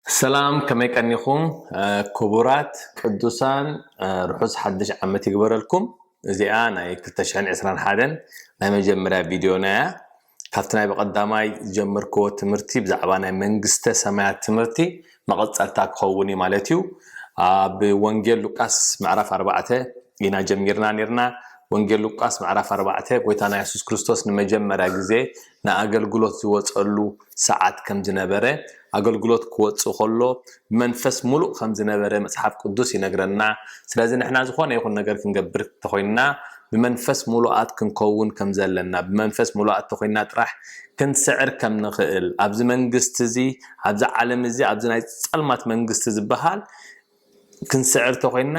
ሰላም ከመይ ቀኒኹም ኩቡራት ቅዱሳን ርሑስ ሓድሽ ዓመት ይግበረልኩም እዚኣ ናይ ክልተ ሽሕን ዕስራን ሓደን ናይ መጀመርያ ቪድዮና እያ ካብቲ ናይ ብቐዳማይ ዝጀመርክዎ ትምህርቲ ብዛዕባ ናይ መንግስተ ሰማያት ትምህርቲ መቐጸልታ ክኸውን እዩ ማለት እዩ ኣብ ወንጌል ሉቃስ ምዕራፍ ኣርባዕተ ኢና ጀሚርና ኔርና ወንጌል ሉቃስ ምዕራፍ ኣርባዕተ ጎይታና የሱስ ክርስቶስ ንመጀመርያ ግዜ ንኣገልግሎት ዝወጸሉ ሰዓት ከም ዝነበረ፣ ኣገልግሎት ክወጽእ ከሎ ብመንፈስ ምሉእ ከም ዝነበረ መጽሓፍ ቅዱስ ይነግረና። ስለዚ ንሕና ዝኾነ ይኹን ነገር ክንገብር እንተኾይንና ብመንፈስ ምሉኣት ክንከውን ከም ዘለና፣ ብመንፈስ ምሉኣት እንተኾይንና ጥራሕ ክንስዕር ከም ንኽእል፣ ኣብዚ መንግስቲ እዚ፣ ኣብዚ ዓለም እዚ፣ ኣብዚ ናይ ጸልማት መንግስቲ ዝበሃል ክንስዕር እንተኾይንና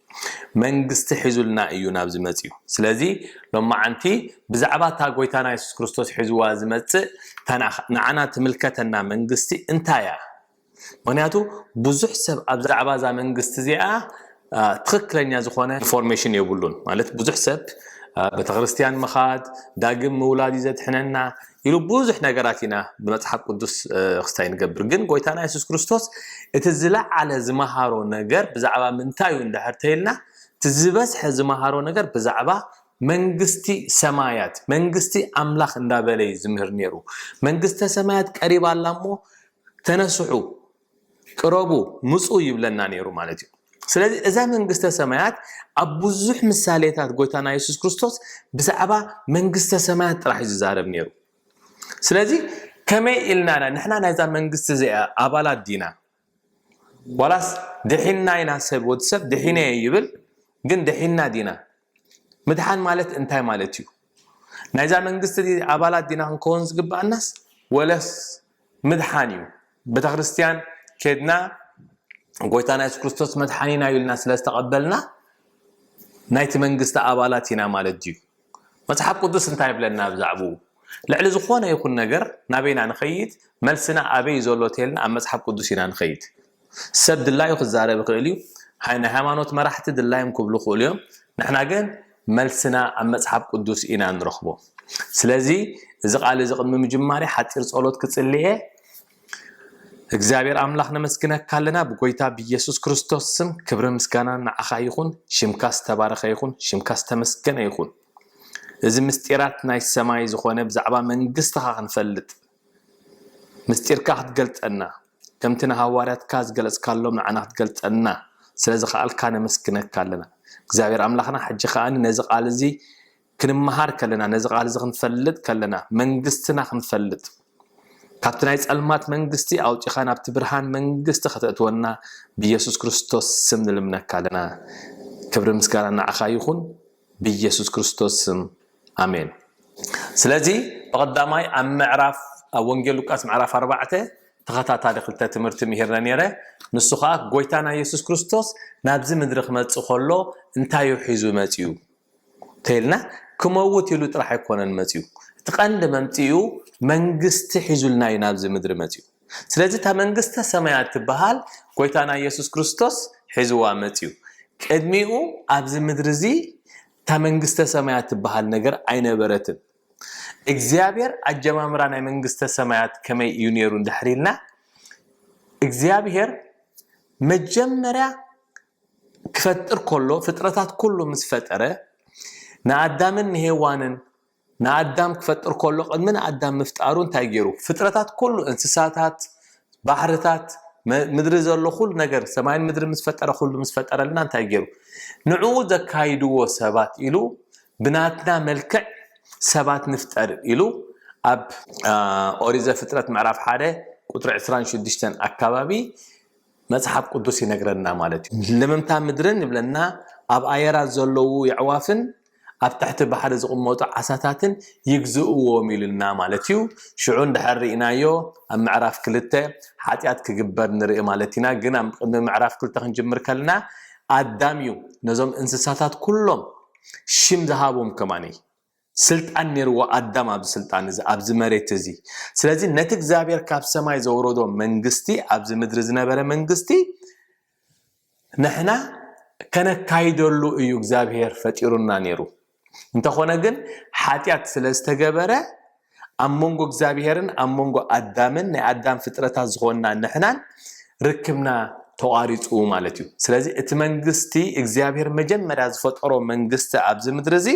መንግስቲ ሒዙልና እዩ ናብዚ መጺኡ። ስለዚ ሎማዓንቲ ብዛዕባ እታ ጎይታና የሱስ ክርስቶስ ሒዝዋ ዝመጽእ እታ ንዓና ትምልከተና መንግስቲ እንታይ እያ? ምክንያቱ ብዙሕ ሰብ ኣብዛዕባ እዛ መንግስቲ እዚኣ ትክክለኛ ዝኮነ ኢንፎርሜሽን የብሉን ማለት ብዙሕ ሰብ ቤተክርስትያን ምካድ ዳግም ምውላድ እዩ ዘድሕነና ኢሉ ብዙሕ ነገራት ኢና ብመጽሓፍ ቅዱስ ክስታይ ንገብር ግን ጎይታና የሱስ ክርስቶስ እቲ ዝለዓለ ዝመሃሮ ነገር ብዛዕባ ምንታይ እዩ እንድሕር ተይልና እቲ ዝበዝሐ ዝመሃሮ ነገር ብዛዕባ መንግስቲ ሰማያት መንግስቲ ኣምላኽ እንዳበለ እዩ ዝምህር ነይሩ መንግስተ ሰማያት ቀሪባ ኣላ እሞ ተነስሑ ቅረቡ ምፁ ይብለና ነይሩ ማለት እዩ ስለዚ እዛ መንግስተ ሰማያት ኣብ ብዙሕ ምሳሌታት ጎይታና የሱስ ክርስቶስ ብዛዕባ መንግስተ ሰማያት ጥራሕ እዩ ዝዛረብ ነይሩ ስለዚ ከመይ ኢልና ኢና ንሕና ናይዛ መንግስቲ እዚኣ ኣባላት ዲና ዋላስ ድሒና ኢና ሰብ ወዲ ሰብ ድሒነ ይብል ግን ድሒና ዲና ምድሓን ማለት እንታይ ማለት እዩ ናይዛ መንግስቲ ኣባላት ዲና ክንከውን ዝግብኣናስ ወለስ ምድሓን እዩ ቤተክርስትያን ከድና ጎይታና የሱስ ክርስቶስ መድሓኒና እዩ ኢልና ስለ ዝተቐበልና ናይቲ መንግስቲ ኣባላት ኢና ማለት ድዩ መጽሓፍ ቅዱስ እንታይ ይብለና ብዛዕባኡ ልዕሊ ዝኾነ ይኹን ነገር ናበይና ንኸይድ መልስና ኣበይ ዘሎ ተልና ኣብ መጽሓፍ ቅዱስ ኢና ንኸይድ ሰብ ድላዩ ክዛረብ ይኽእል እዩ ሃይ ናይ ሃይማኖት መራሕቲ ድላዮም ክብሉ ይኽእሉ እዮም ንሕና ግን መልስና ኣብ መጽሓፍ ቅዱስ ኢና ንረኽቦ ስለዚ እዚ ቃል እዚ ቅድሚ ምጅማርይ ሓጺር ጸሎት ክጽልየ እግዚኣብሔር ኣምላኽ ነመስግነካ ኣለና ብጎይታ ብኢየሱስ ክርስቶስ ስም ክብሪ ምስጋና ንዓኻ ይኹን ሽምካ ዝተባረኸ ይኹን ሽምካ ዝተመስገነ ይኹን እዚ ምስጢራት ናይ ሰማይ ዝኾነ ብዛዕባ መንግስትኻ ክንፈልጥ ምስጢርካ ክትገልጸልና ከምቲ ንሃዋርያትካ ዝገለጽካሎም ንዓና ክትገልጸልና ስለ ዝኸኣልካ ነመስግነካ ኣለና እግዚኣብሔር ኣምላኽና ሕጂ ከኣ ነዚ ቃል እዚ ክንመሃር ከለና ነዚ ቃል እዚ ክንፈልጥ ከለና መንግስትና ክንፈልጥ ካብቲ ናይ ጸልማት መንግስቲ ኣውጺኻ ናብቲ ብርሃን መንግስቲ ከተእትወና ብኢየሱስ ክርስቶስ ስም ንልምነካ ኣለና ክብሪ ምስጋና ንዓኻ ይኹን ብኢየሱስ ክርስቶስ ስም ኣሜን ስለዚ ብቀዳማይ ኣብ ምዕራፍ ኣብ ወንጌል ሉቃስ ምዕራፍ ኣርባዕተ ተኸታታሊ ክልተ ትምህርቲ ምሂርነ ነይረ ንሱ ከኣ ጎይታና የሱስ ክርስቶስ ናብዚ ምድሪ ክመጽእ ከሎ እንታይ እዩ ሒዙ መጽኡ ተይልና ክመውት ኢሉ ጥራሕ ኣይኮነን መጽኡ እቲ ቀንዲ መምጽኡ መንግስቲ ሒዙልና እዩ ናብዚ ምድሪ መጽኡ ስለዚ እታ መንግስተ ሰማያት ትበሃል ጎይታና የሱስ ክርስቶስ ሒዝዋ መጽኡ ቅድሚኡ ኣብዚ ምድሪ እዚ እታ መንግስተ ሰማያት ትበሃል ነገር ኣይነበረትን። እግዚኣብሔር ኣጀማምራ ናይ መንግስተ ሰማያት ከመይ እዩ ነይሩ እንድሕር ኢልና እግዚኣብሔር መጀመርያ ክፈጥር ከሎ ፍጥረታት ኩሉ ምስ ፈጠረ ንኣዳምን ንሄዋንን ንኣዳም ክፈጥር ከሎ ቅድሚ ንኣዳም ምፍጣሩ እንታይ ገይሩ ፍጥረታት ኩሉ እንስሳታት ባሕርታት ምድሪ ዘሎ ኩሉ ነገር ሰማይን ምድሪ ምስ ፈጠረ ኩሉ ምስ ፈጠረልና እንታይ ገይሩ ንዕኡ ዘካይድዎ ሰባት ኢሉ ብናትና መልክዕ ሰባት ንፍጠር ኢሉ ኣብ ኦሪት ዘፍጥረት ምዕራፍ ሓደ ቁጥሪ 26 ኣካባቢ መጽሓፍ ቅዱስ ይነግረና ማለት እዩ። ለመምታ ምድርን ይብለና ኣብ ኣየራት ዘለዉ የዕዋፍን ኣብ ትሕቲ ባሕሪ ዝቕመጡ ዓሳታትን ይግዝእዎም ኢሉና ማለት እዩ። ሽዑ እንድሕር ርኢናዮ ኣብ ምዕራፍ ክልተ ሓጢኣት ክግበር ንርኢ ማለት ኢና። ግን ኣብ ቅድሚ ምዕራፍ ክልተ ክንጅምር ከለና ኣዳም እዩ ነዞም እንስሳታት ኩሎም ሽም ዝሃቦም ከማን። ስልጣን ኔርዎ ኣዳም ኣብዚ ስልጣን እዚ ኣብዚ መሬት እዚ ስለዚ ነቲ እግዚኣብሔር ካብ ሰማይ ዘውረዶ መንግስቲ ኣብዚ ምድሪ ዝነበረ መንግስቲ ንሕና ከነካይደሉ እዩ እግዚኣብሔር ፈጢሩና ኔሩ እንተኾነ ግን ሓጢኣት ስለ ዝተገበረ ኣብ መንጎ እግዚኣብሔርን ኣብ መንጎ ኣዳምን ናይ ኣዳም ፍጥረታት ዝኾንና ንሕናን ርክብና ተቋሪፁ ማለት እዩ ስለዚ እቲ መንግስቲ እግዚኣብሔር መጀመርያ ዝፈጠሮ መንግስቲ ኣብዚ ምድሪ እዚ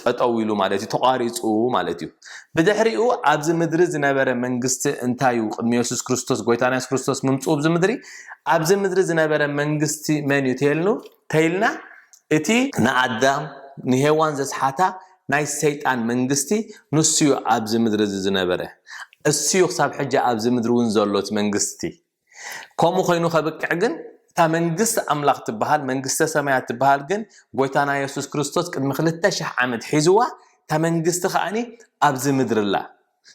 ጠጠው ኢሉ ማለት እዩ፣ ተቋሪጹ ማለት እዩ። ብድሕሪኡ ኣብዚ ምድሪ ዝነበረ መንግስቲ እንታይ እዩ? ቅድሚ የሱስ ክርስቶስ ጎይታና የሱስ ክርስቶስ ምምጽኡ ኣብዚ ምድሪ ኣብዚ ምድሪ ዝነበረ መንግስቲ መን እዩ ተይልኑ ተይልና እቲ ንኣዳም ንሄዋን ዘስሓታ ናይ ሰይጣን መንግስቲ ንሱ እዩ ኣብዚ ምድሪ እዚ ዝነበረ እሱ እዩ ክሳብ ሕጂ ኣብዚ ምድሪ እውን ዘሎ እቲ መንግስቲ ከምኡ ኮይኑ ከብቅዕ ግን እታ መንግስቲ ኣምላኽ ትበሃል መንግስተ ሰማያት ትበሃል ግን ጎይታና የሱስ ክርስቶስ ቅድሚ ክልተ ሽሕ ዓመት ሒዝዋ እታ መንግስቲ ከዓኒ ኣብዚ ምድሪ ኣላ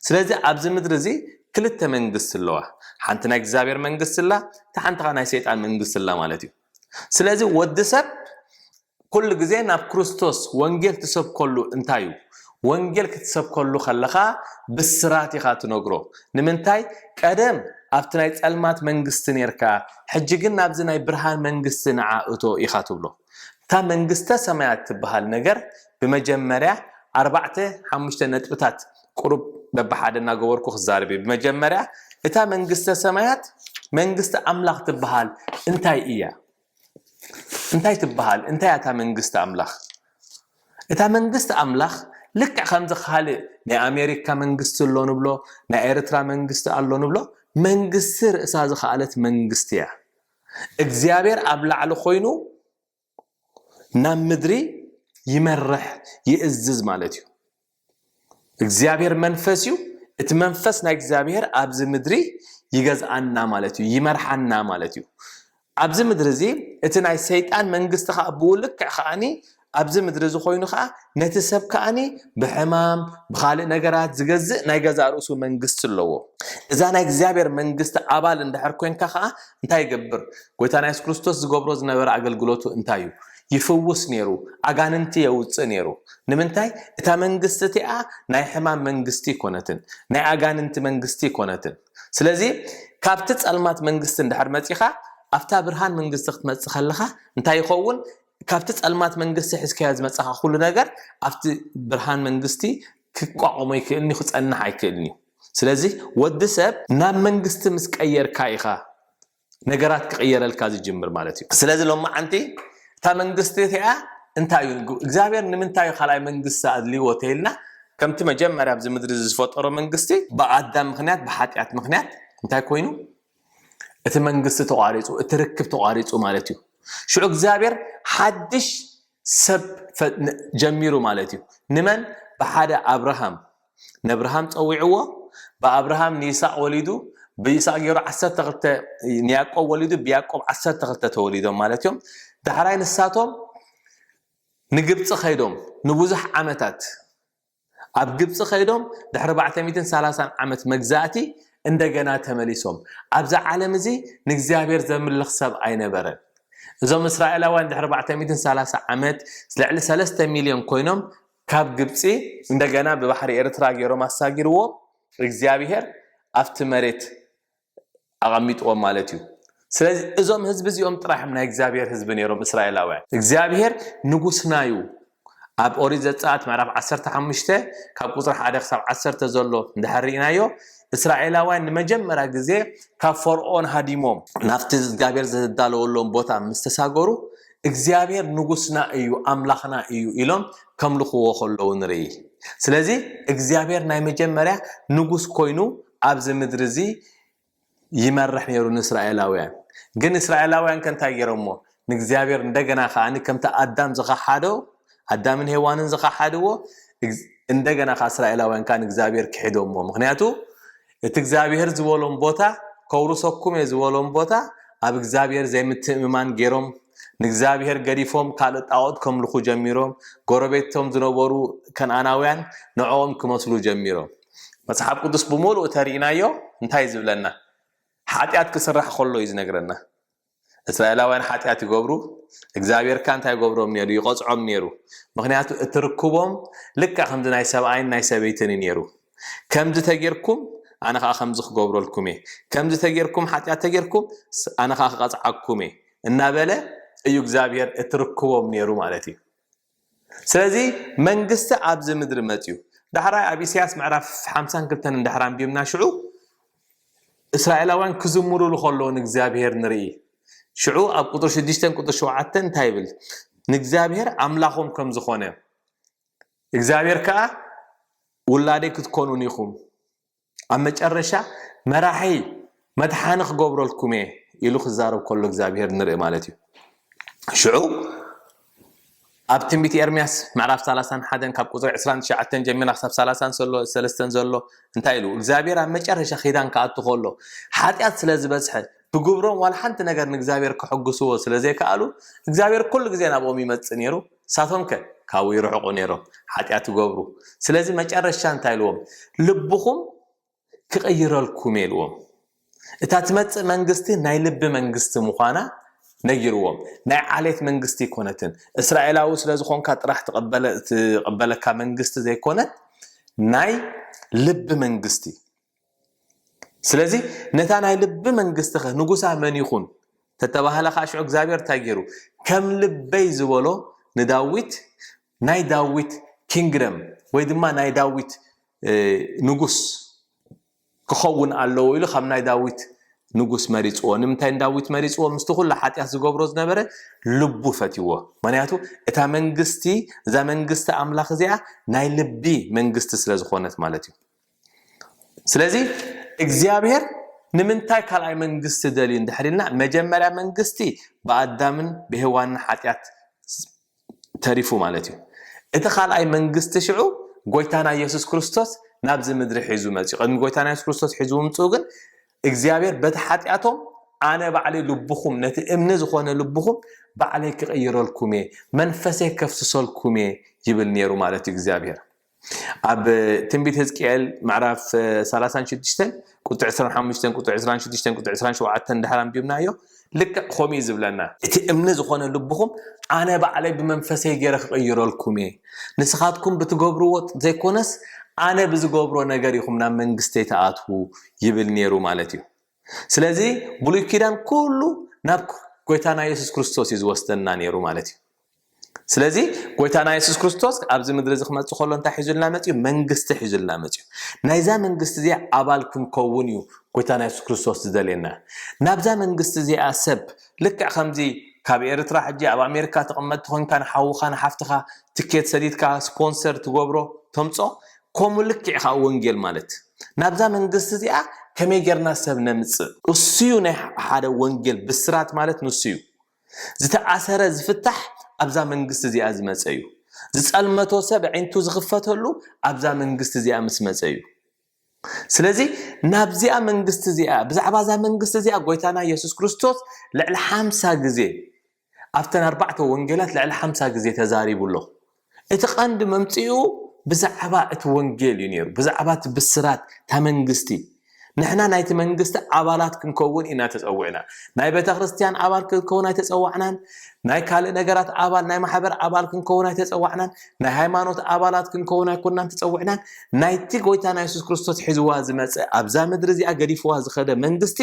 ስለዚ ኣብዚ ምድሪ እዚ ክልተ መንግስቲ ኣለዋ ሓንቲ ናይ እግዚኣብሔር መንግስቲ ኣላ እቲ ሓንቲ ከዓ ናይ ሰይጣን መንግስቲ ኣላ ማለት እዩ ስለዚ ወዲ ሰብ ኩሉ ግዜ ናብ ክርስቶስ ወንጌል ትሰብከሉ እንታይ እዩ? ወንጌል ክትሰብከሉ ከለኻ ብስራት ኢኻ ትነግሮ። ንምንታይ? ቀደም ኣብቲ ናይ ጸልማት መንግስቲ ኔርካ፣ ሕጂ ግን ናብዚ ናይ ብርሃን መንግስቲ ንዓ እቶ ኢኻ ትብሎ። እታ መንግስተ ሰማያት ትብሃል ነገር ብመጀመርያ ኣርባዕተ ሓሙሽተ ነጥብታት ቁሩብ በብሓደ እናገበርኩ ክዛረብ እየ። ብመጀመርያ እታ መንግስተ ሰማያት መንግስቲ ኣምላኽ ትብሃል እንታይ እያ? እንታይ ትበሃል? እንታይ እያ እታ መንግስቲ ኣምላኽ? እታ መንግስቲ ኣምላኽ ልክዕ ከምዚ ካልእ ናይ ኣሜሪካ መንግስቲ ኣሎ ንብሎ፣ ናይ ኤርትራ መንግስቲ ኣሎ ንብሎ፣ መንግስቲ ርእሳ ዝኸኣለት መንግስቲ እያ። እግዚኣብሔር ኣብ ላዕሊ ኮይኑ ናብ ምድሪ ይመርሕ ይእዝዝ ማለት እዩ። እግዚኣብሔር መንፈስ እዩ እቲ መንፈስ ናይ እግዚኣብሔር ኣብዚ ምድሪ ይገዝኣና ማለት እዩ ይመርሓና ማለት እዩ ኣብዚ ምድሪ እዚ እቲ ናይ ሰይጣን መንግስቲ ከዓ ብኡ ልክዕ ከዓኒ ኣብዚ ምድሪ እዚ ኮይኑ ከዓ ነቲ ሰብ ከዓኒ ብሕማም ብካልእ ነገራት ዝገዝእ ናይ ገዛ ርእሱ መንግስቲ ኣለዎ እዛ ናይ እግዚኣብሔር መንግስቲ ኣባል እንድሕር ኮንካ ከዓ እንታይ ይገብር ጎይታ ናይ የሱስ ክርስቶስ ዝገብሮ ዝነበረ ኣገልግሎቱ እንታይ እዩ ይፍውስ ነይሩ፣ ኣጋንንቲ የውጽእ ነይሩ። ንምንታይ? እታ መንግስቲ እቲኣ ናይ ሕማም መንግስቲ ኣይኰነትን፣ ናይ ኣጋንንቲ መንግስቲ ኣይኰነትን። ስለዚ፣ ካብቲ ጸልማት መንግስቲ እንድሕር መጺኻ ኣብታ ብርሃን መንግስቲ ክትመጽእ ከለኻ እንታይ ይኸውን? ካብቲ ጸልማት መንግስቲ ሒዝካዮ ዝመጻኻ ኵሉ ነገር ኣብቲ ብርሃን መንግስቲ ክቋቖሞ ኣይክእልን'ዩ፣ ክጸንሕ ኣይክእልን'ዩ። ስለዚ፣ ወዲ ሰብ ናብ መንግስቲ ምስ ቀየርካ ኢኻ ነገራት ክቕየረልካ ዝጅምር ማለት እዩ። ስለዚ ሎማዓንቲ እታ መንግስቲ እቲኣ እንታይ እዩ እግዚኣብሔር ንምንታይ እዩ ካልኣይ መንግስቲ ኣድልይዎ ተይልና ከምቲ መጀመርያ ኣብዚ ምድሪ እዚ ዝፈጠሮ መንግስቲ ብኣዳም ምክንያት ብሓጢኣት ምክንያት እንታይ ኮይኑ እቲ መንግስቲ ተቋሪፁ እቲ ርክብ ተቋሪፁ ማለት እዩ። ሽዑ እግዚኣብሔር ሓድሽ ሰብ ጀሚሩ ማለት እዩ። ንመን ብሓደ ኣብርሃም ነብርሃም ጸዊዕዎ ብኣብርሃም ንይስሃቅ ወሊዱ ብይስሃቅ ገይሩ ዓሰርተ ክልተ ንያቆብ ወሊዱ ብያቆብ ዓሰርተ ክልተ ተወሊዶም ማለት እዮም ዳሕራይ ንሳቶም ንግብጺ ከይዶም ንብዙሕ ዓመታት ኣብ ግብጺ ከይዶም ድሕሪ ባዕተ ሚትን ሰላሳን ዓመት መግዛእቲ እንደገና ተመሊሶም ኣብዚ ዓለም እዚ ንእግዚኣብሔር ዘምልኽ ሰብ ኣይነበረን እዞም እስራኤላውያን ድሕሪ ባዕተ ሚትን ሰላሳ ዓመት ልዕሊ ሰለስተ ሚልዮን ኮይኖም ካብ ግብፂ እንደገና ብባሕሪ ኤርትራ ገይሮም ኣሳጊርዎም እግዚኣብሄር ኣብቲ መሬት ኣቐሚጥዎም ማለት እዩ ስለዚ እዞም ህዝቢ እዚኦም ጥራሕም ናይ እግዚኣብሄር ህዝቢ ነይሮም እስራኤላውያን እግዚኣብሄር ንጉስና እዩ ኣብ ኦሪት ዘፀኣት ምዕራፍ 15 ካብ ቁፅሪ 1 ክሳብ 1 ዘሎ እንድሕር ርኢናዮ እስራኤላውያን ንመጀመርያ ግዜ ካብ ፈርኦን ሃዲሞም ናብቲ እግዚኣብሄር ዘዳለወሎም ቦታ ምስ ተሳገሩ እግዚኣብሔር ንጉስና እዩ ኣምላኽና እዩ ኢሎም ከምልኽዎ ከለዉ ንርኢ ስለዚ እግዚኣብሔር ናይ መጀመርያ ንጉስ ኮይኑ ኣብዚ ምድሪ እዚ ይመርሕ ነይሩ ንእስራኤላውያን ግን እስራኤላውያን ከንታይ ገይሮሞ ንእግዚኣብሔር እንደገና ከዓ ከምቲ ኣዳም ዝኸሓዶ ኣዳምን ሄዋንን ዝኸሓድዎ እንደገና ከዓ እስራኤላውያን ከዓ ንእግዚኣብሔር ክሒዶሞ ምክንያቱ እቲ እግዚኣብሄር ዝበሎም ቦታ ከውርሰኩም እየ ዝበሎም ቦታ ኣብ እግዚኣብሄር ዘይምትእምማን ገይሮም ንእግዚኣብሄር ገዲፎም ካልእ ጣዖት ከምልኹ ጀሚሮም ጎረቤቶም ዝነበሩ ከነኣናውያን ንዕኦም ክመስሉ ጀሚሮም መጽሓፍ ቅዱስ ብምሉእ ተሪኢናዮ እንታይ ዝብለና ሓጢኣት ክስራሕ ከሎ እዩ ዝነግረና እስራኤላውያን ሓጢኣት ይገብሩ እግዚኣብሔር ካን እንታይ ይገብሮም ነይሩ ይቐፅዖም ነይሩ ምክንያቱ እቲ ርክቦም ልካ ከምዚ ናይ ሰብኣይን ናይ ሰበይትን እዩ ነይሩ ከምዚ ተጌርኩም ኣነ ከዓ ከምዚ ክገብረልኩም እየ ከምዚ ተጌርኩም ሓጢኣት ተጌርኩም ኣነ ከዓ ክቐፅዓኩም እየ እናበለ እዩ እግዚኣብሔር እቲ ርክቦም ነይሩ ማለት እዩ ስለዚ መንግስቲ ኣብዚ ምድሪ መጽዩ ዳሕራይ ኣብ ኢሳያስ ምዕራፍ ሓምሳን ክልተን እንድሕር ኣንቢብና ሽዑ እስራኤላውያን ክዝምሩሉ ከለዉ ንእግዚኣብሄር ንርኢ ሽዑ ኣብ ቁጥሪ ሽዱሽተን ቁጥሪ ሸውዓተን እንታይ ይብል ንእግዚኣብሄር ኣምላኾም ከም ዝኾነ እግዚኣብሄር ከዓ ውላደይ ክትኮኑን ኢኹም ኣብ መጨረሻ መራሒ መድሓኒ ክገብረልኩም እየ ኢሉ ክዛረብ ከሎ እግዚኣብሄር ንርኢ ማለት እዩ ሽዑ ኣብ ትንቢት ኤርምያስ ምዕራፍ 31 ካብ ቁፅሪ 29 ጀሚራ ክሳብ 33 ዘሎ እንታይ ኢሉ እግዚኣብሔር ኣብ መጨረሻ ኪዳን ክኣቱ ከሎ ሓጢኣት ስለ ዝበዝሐ ብግብሮም ዋላ ሓንቲ ነገር ንእግዚኣብሔር ክሕግስዎ ስለ ዘይከኣሉ እግዚኣብሔር ኩሉ ግዜ ናብኦም ይመፅእ ነይሩ ንሳቶምከ ካብኡ ይርሕቁ ነይሮም፣ ሓጢኣት ይገብሩ። ስለዚ መጨረሻ እንታይ ኢልዎም? ልብኹም ክቕይረልኩም'የ ኢልዎም። እታ ትመጽእ መንግስቲ ናይ ልቢ መንግስቲ ምዃና ነጊርዎም። ናይ ዓሌት መንግስቲ ኣይኮነትን። እስራኤላዊ ስለ ዝኾንካ ጥራሕ ትቕበለካ መንግስቲ ዘይኮነት ናይ ልቢ መንግስቲ። ስለዚ ነታ ናይ ልቢ መንግስትኸ ንጉሳ መን ይኹን ተተባህለ ከዓ ሽዑ እግዚኣብሔር እንታይ ገይሩ ከም ልበይ ዝበሎ ንዳዊት ናይ ዳዊት ኪንግደም ወይ ድማ ናይ ዳዊት ንጉስ ክኸውን ኣለዎ ኢሉ ካብ ናይ ዳዊት ንጉስ መሪፅዎ ንምንታይ ንዳዊት መሪፅዎ ምስቲ ኩሉ ሓጢኣት ዝገብሮ ዝነበረ ልቡ ፈትዎ ምክንያቱ እታ መንግስቲ እዛ መንግስቲ ኣምላኽ እዚኣ ናይ ልቢ መንግስቲ ስለ ዝኾነት ማለት እዩ ስለዚ እግዚኣብሔር ንምንታይ ካልኣይ መንግስቲ ደልዩ እንድሕሪልና መጀመርያ መንግስቲ ብኣዳምን ብሔዋንን ሓጢኣት ተሪፉ ማለት እዩ እቲ ካልኣይ መንግስቲ ሽዑ ጎይታና ኢየሱስ ክርስቶስ ናብዚ ምድሪ ሒዙ መፅኡ ቅድሚ ጎይታና የሱስ ክርስቶስ ሒዙ ምምፅኡ ግን እግዚኣብሔር በቲ ሓጢኣቶም ኣነ ባዕለይ ልብኹም ነቲ እምኒ ዝኾነ ልብኹም ባዕለይ ክቕይረልኩም እየ መንፈሰይ ከፍስሰልኩም እየ ይብል ነይሩ ማለት እዩ እግዚኣብሔር ኣብ ትንቢት ህዝቅኤል ምዕራፍ ሰላሳን ሽዱሽተን ቁጥሪ ዕስራን ሓሙሽተን ቁጥሪ ዕስራን ሽዱሽተን ቁጥሪ ዕስራን ሸውዓተን ድሓር ኣንቢብናዮ ልክዕ ከምኡ እዩ ዝብለና እቲ እምኒ ዝኾነ ልብኹም ኣነ ባዕለይ ብመንፈሰይ ገይረ ክቕይረልኩም እየ ንስኻትኩም ብትገብርዎ ዘይኮነስ ኣነ ብዝገብሮ ነገር ኢኹም ናብ መንግስተይ ትኣትዉ ይብል ነይሩ ማለት እዩ ስለዚ ብሉይ ኪዳን ኩሉ ናብ ጎይታና የሱስ ክርስቶስ እዩ ዝወስደና ነይሩ ማለት እዩ ስለዚ ጎይታና የሱስ ክርስቶስ ኣብዚ ምድሪ እዚ ክመፅእ ከሎ እንታይ ሒዙልና መፅዩ መንግስቲ ሒዙልና መፅዩ ናይዛ መንግስቲ እዚኣ ኣባል ክንከውን እዩ ጎይታና የሱስ ክርስቶስ ዝደልየና ናብዛ መንግስቲ እዚኣ ሰብ ልክዕ ከምዚ ካብ ኤርትራ ሕጂ ኣብ ኣሜሪካ ተቐመጥቲ ኮንካ ንሓውኻ ንሓፍትኻ ትኬት ሰዲድካ ስፖንሰር ትገብሮ ተምፆ ከምኡ ልክዕ ኢኻ ወንጌል ማለት እዩ ናብዛ መንግስቲ እዚኣ ከመይ ጌርና ሰብ ነምጽእ? እሱዩ ናይ ሓደ ወንጌል ብስራት ማለት ንሱዩ። ዝተኣሰረ ዝፍታሕ ኣብዛ መንግስቲ እዚኣ ዝመጸ እዩ። ዝጸልመቶ ሰብ ኣዒንቱ ዝኽፈተሉ ኣብዛ መንግስቲ እዚኣ ምስ መጸ እዩ። ስለዚ ናብዚኣ መንግስቲ እዚኣ ብዛዕባ እዛ መንግስቲ እዚኣ ጎይታና የሱስ ክርስቶስ ልዕሊ ሓምሳ ግዜ ኣብተን ኣርባዕተ ወንጌላት ልዕሊ ሓምሳ ግዜ ተዛሪቡ ኣሎ። እቲ ቀንዲ መምጽኡ ብዛዕባ እቲ ወንጌል እዩ ነይሩ፣ ብዛዕባ እቲ ብስራት እታ መንግስቲ። ንሕና ናይቲ መንግስቲ ኣባላት ክንከውን ኢና ተጸዊዕና። ናይ ቤተ ክርስቲያን ኣባል ክንከውን ኣይተጸዋዕናን። ናይ ካልእ ነገራት ኣባል፣ ናይ ማሕበር ኣባል ክንከውን ኣይተጸዋዕናን። ናይ ሃይማኖት ኣባላት ክንከውን ኣይኮናን ተጸዊዕናን። ናይቲ ጎይታና የሱስ ክርስቶስ ሒዝዋ ዝመጸ ኣብዛ ምድሪ እዚኣ ገዲፍዋ ዝኸደ መንግስቲ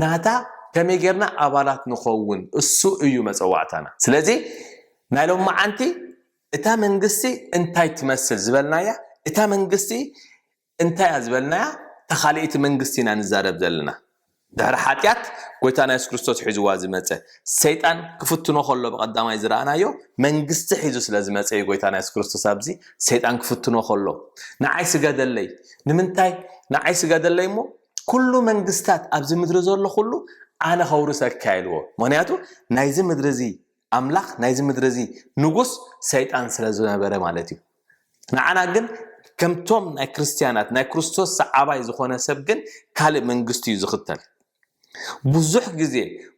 ናታ ከመይ ጌርና ኣባላት ንኸውን እሱ እዩ መጸዋዕታና። ስለዚ ናይ ሎምዓንቲ እታ መንግስቲ እንታይ ትመስል ዝበልናያ እታ መንግስቲ እንታይ እያ ዝበልናያ ታኻልኢት መንግስቲ ኢና ንዛረብ ዘለና ድሕሪ ሓጢኣት ጎይታና የሱስ ክርስቶስ ሒዝዋ ዝመጸ ሰይጣን ክፍትኖ ከሎ ብቀዳማይ ዝረኣናዮ መንግስቲ ሒዙ ስለ ዝመጸ እዩ ጎይታና የሱስ ክርስቶስ ኣብዚ ሰይጣን ክፍትኖ ከሎ ንዓይ ስገደለይ ንምንታይ ንዓይ ስገደለይ እሞ ኩሉ መንግስታት ኣብዚ ምድሪ ዘሎ ኩሉ ኣነ ከውርሰካ ኢልዎ ምክንያቱ ናይዚ ምድሪ እዚ ኣምላኽ ናይዚ ምድሪ እዚ ንጉስ ሰይጣን ስለ ዝነበረ ማለት እዩ ንዓና ግን ከምቶም ናይ ክርስትያናት ናይ ክርስቶስ ሰዓባይ ዝኾነ ሰብ ግን ካልእ መንግስቲ እዩ ዝኽተል ብዙሕ ግዜ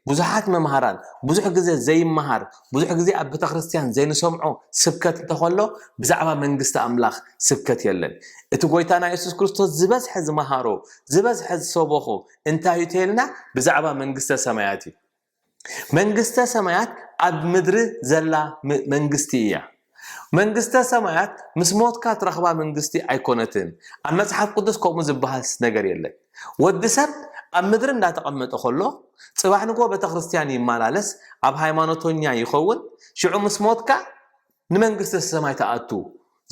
ብዙሓት መምሃራን ብዙሕ ግዜ ዘይመሃር ብዙሕ ግዜ ኣብ ቤተክርስትያን ዘይንሰምዖ ስብከት እንተኸሎ ብዛዕባ መንግስቲ ኣምላኽ ስብከት የለን። እቲ ጎይታና የሱስ ክርስቶስ ዝበዝሐ ዝመሃሮ ዝበዝሐ ዝሰበኾ እንታይ እዩ ተይልና ብዛዕባ መንግስተ ሰማያት እዩ። መንግስተ ሰማያት ኣብ ምድሪ ዘላ መንግስቲ እያ። መንግስተ ሰማያት ምስ ሞትካ ትረኽባ መንግስቲ ኣይኮነትን ኣብ መጽሓፍ ቅዱስ ከምኡ ዝበሃልስ ነገር የለን ወዲ ሰብ ኣብ ምድሪ እንዳተቐመጠ ከሎ ጽባሕ ንግሆ ቤተክርስትያን ይመላለስ ኣብ ሃይማኖተኛ ይኸውን ሽዑ ምስ ሞትካ ንመንግስተ ሰማይ ትኣቱ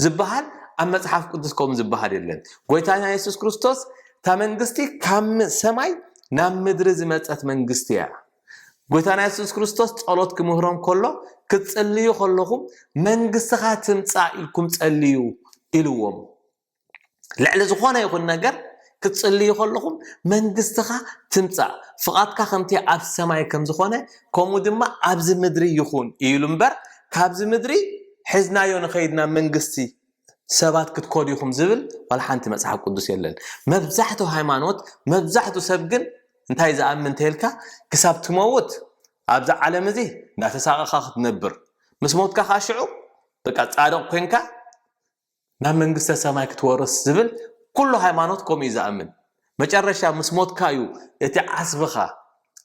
ዝበሃል ኣብ መጽሓፍ ቅዱስ ከምኡ ዝበሃል የለን ጎይታና የሱስ ክርስቶስ እታ መንግስቲ ካብ ሰማይ ናብ ምድሪ ዝመጸት መንግስቲ እያ ጎይታና የሱስ ክርስቶስ ጸሎት ክምህሮም ከሎ ክትጽልዩ ከለኹም መንግስትኻ ትምጻእ ኢልኩም ጸልዩ ኢልዎም ልዕሊ ዝኾነ ይኹን ነገር ክትጽልዩ ከለኹም መንግስትኻ ትምጻእ ፍቓድካ ከምቲ ኣብ ሰማይ ከም ዝኾነ ከምኡ ድማ ኣብዚ ምድሪ ይኹን ኢሉ እምበር ካብዚ ምድሪ ሕዝናዮ ንኸይድና መንግስቲ ሰባት ክትኮዱ ኢኹም ዝብል ዋላ ሓንቲ መጽሓፍ ቅዱስ የለን። መብዛሕቱ ሃይማኖት መብዛሕቱ ሰብ ግን እንታይ ዝኣምን እንተልካ ክሳብ ትመውት ኣብዚ ዓለም እዚ እንዳተሳቐኻ ክትነብር ምስ ሞትካ ከዓ ሽዑ በቃ ጻድቕ ኮንካ ናብ መንግስተ ሰማይ ክትወርስ ዝብል ኩሉ ሃይማኖት ከምኡ እዩ ዝኣምን። መጨረሻ ምስ ሞትካ እዩ እቲ ዓስብኻ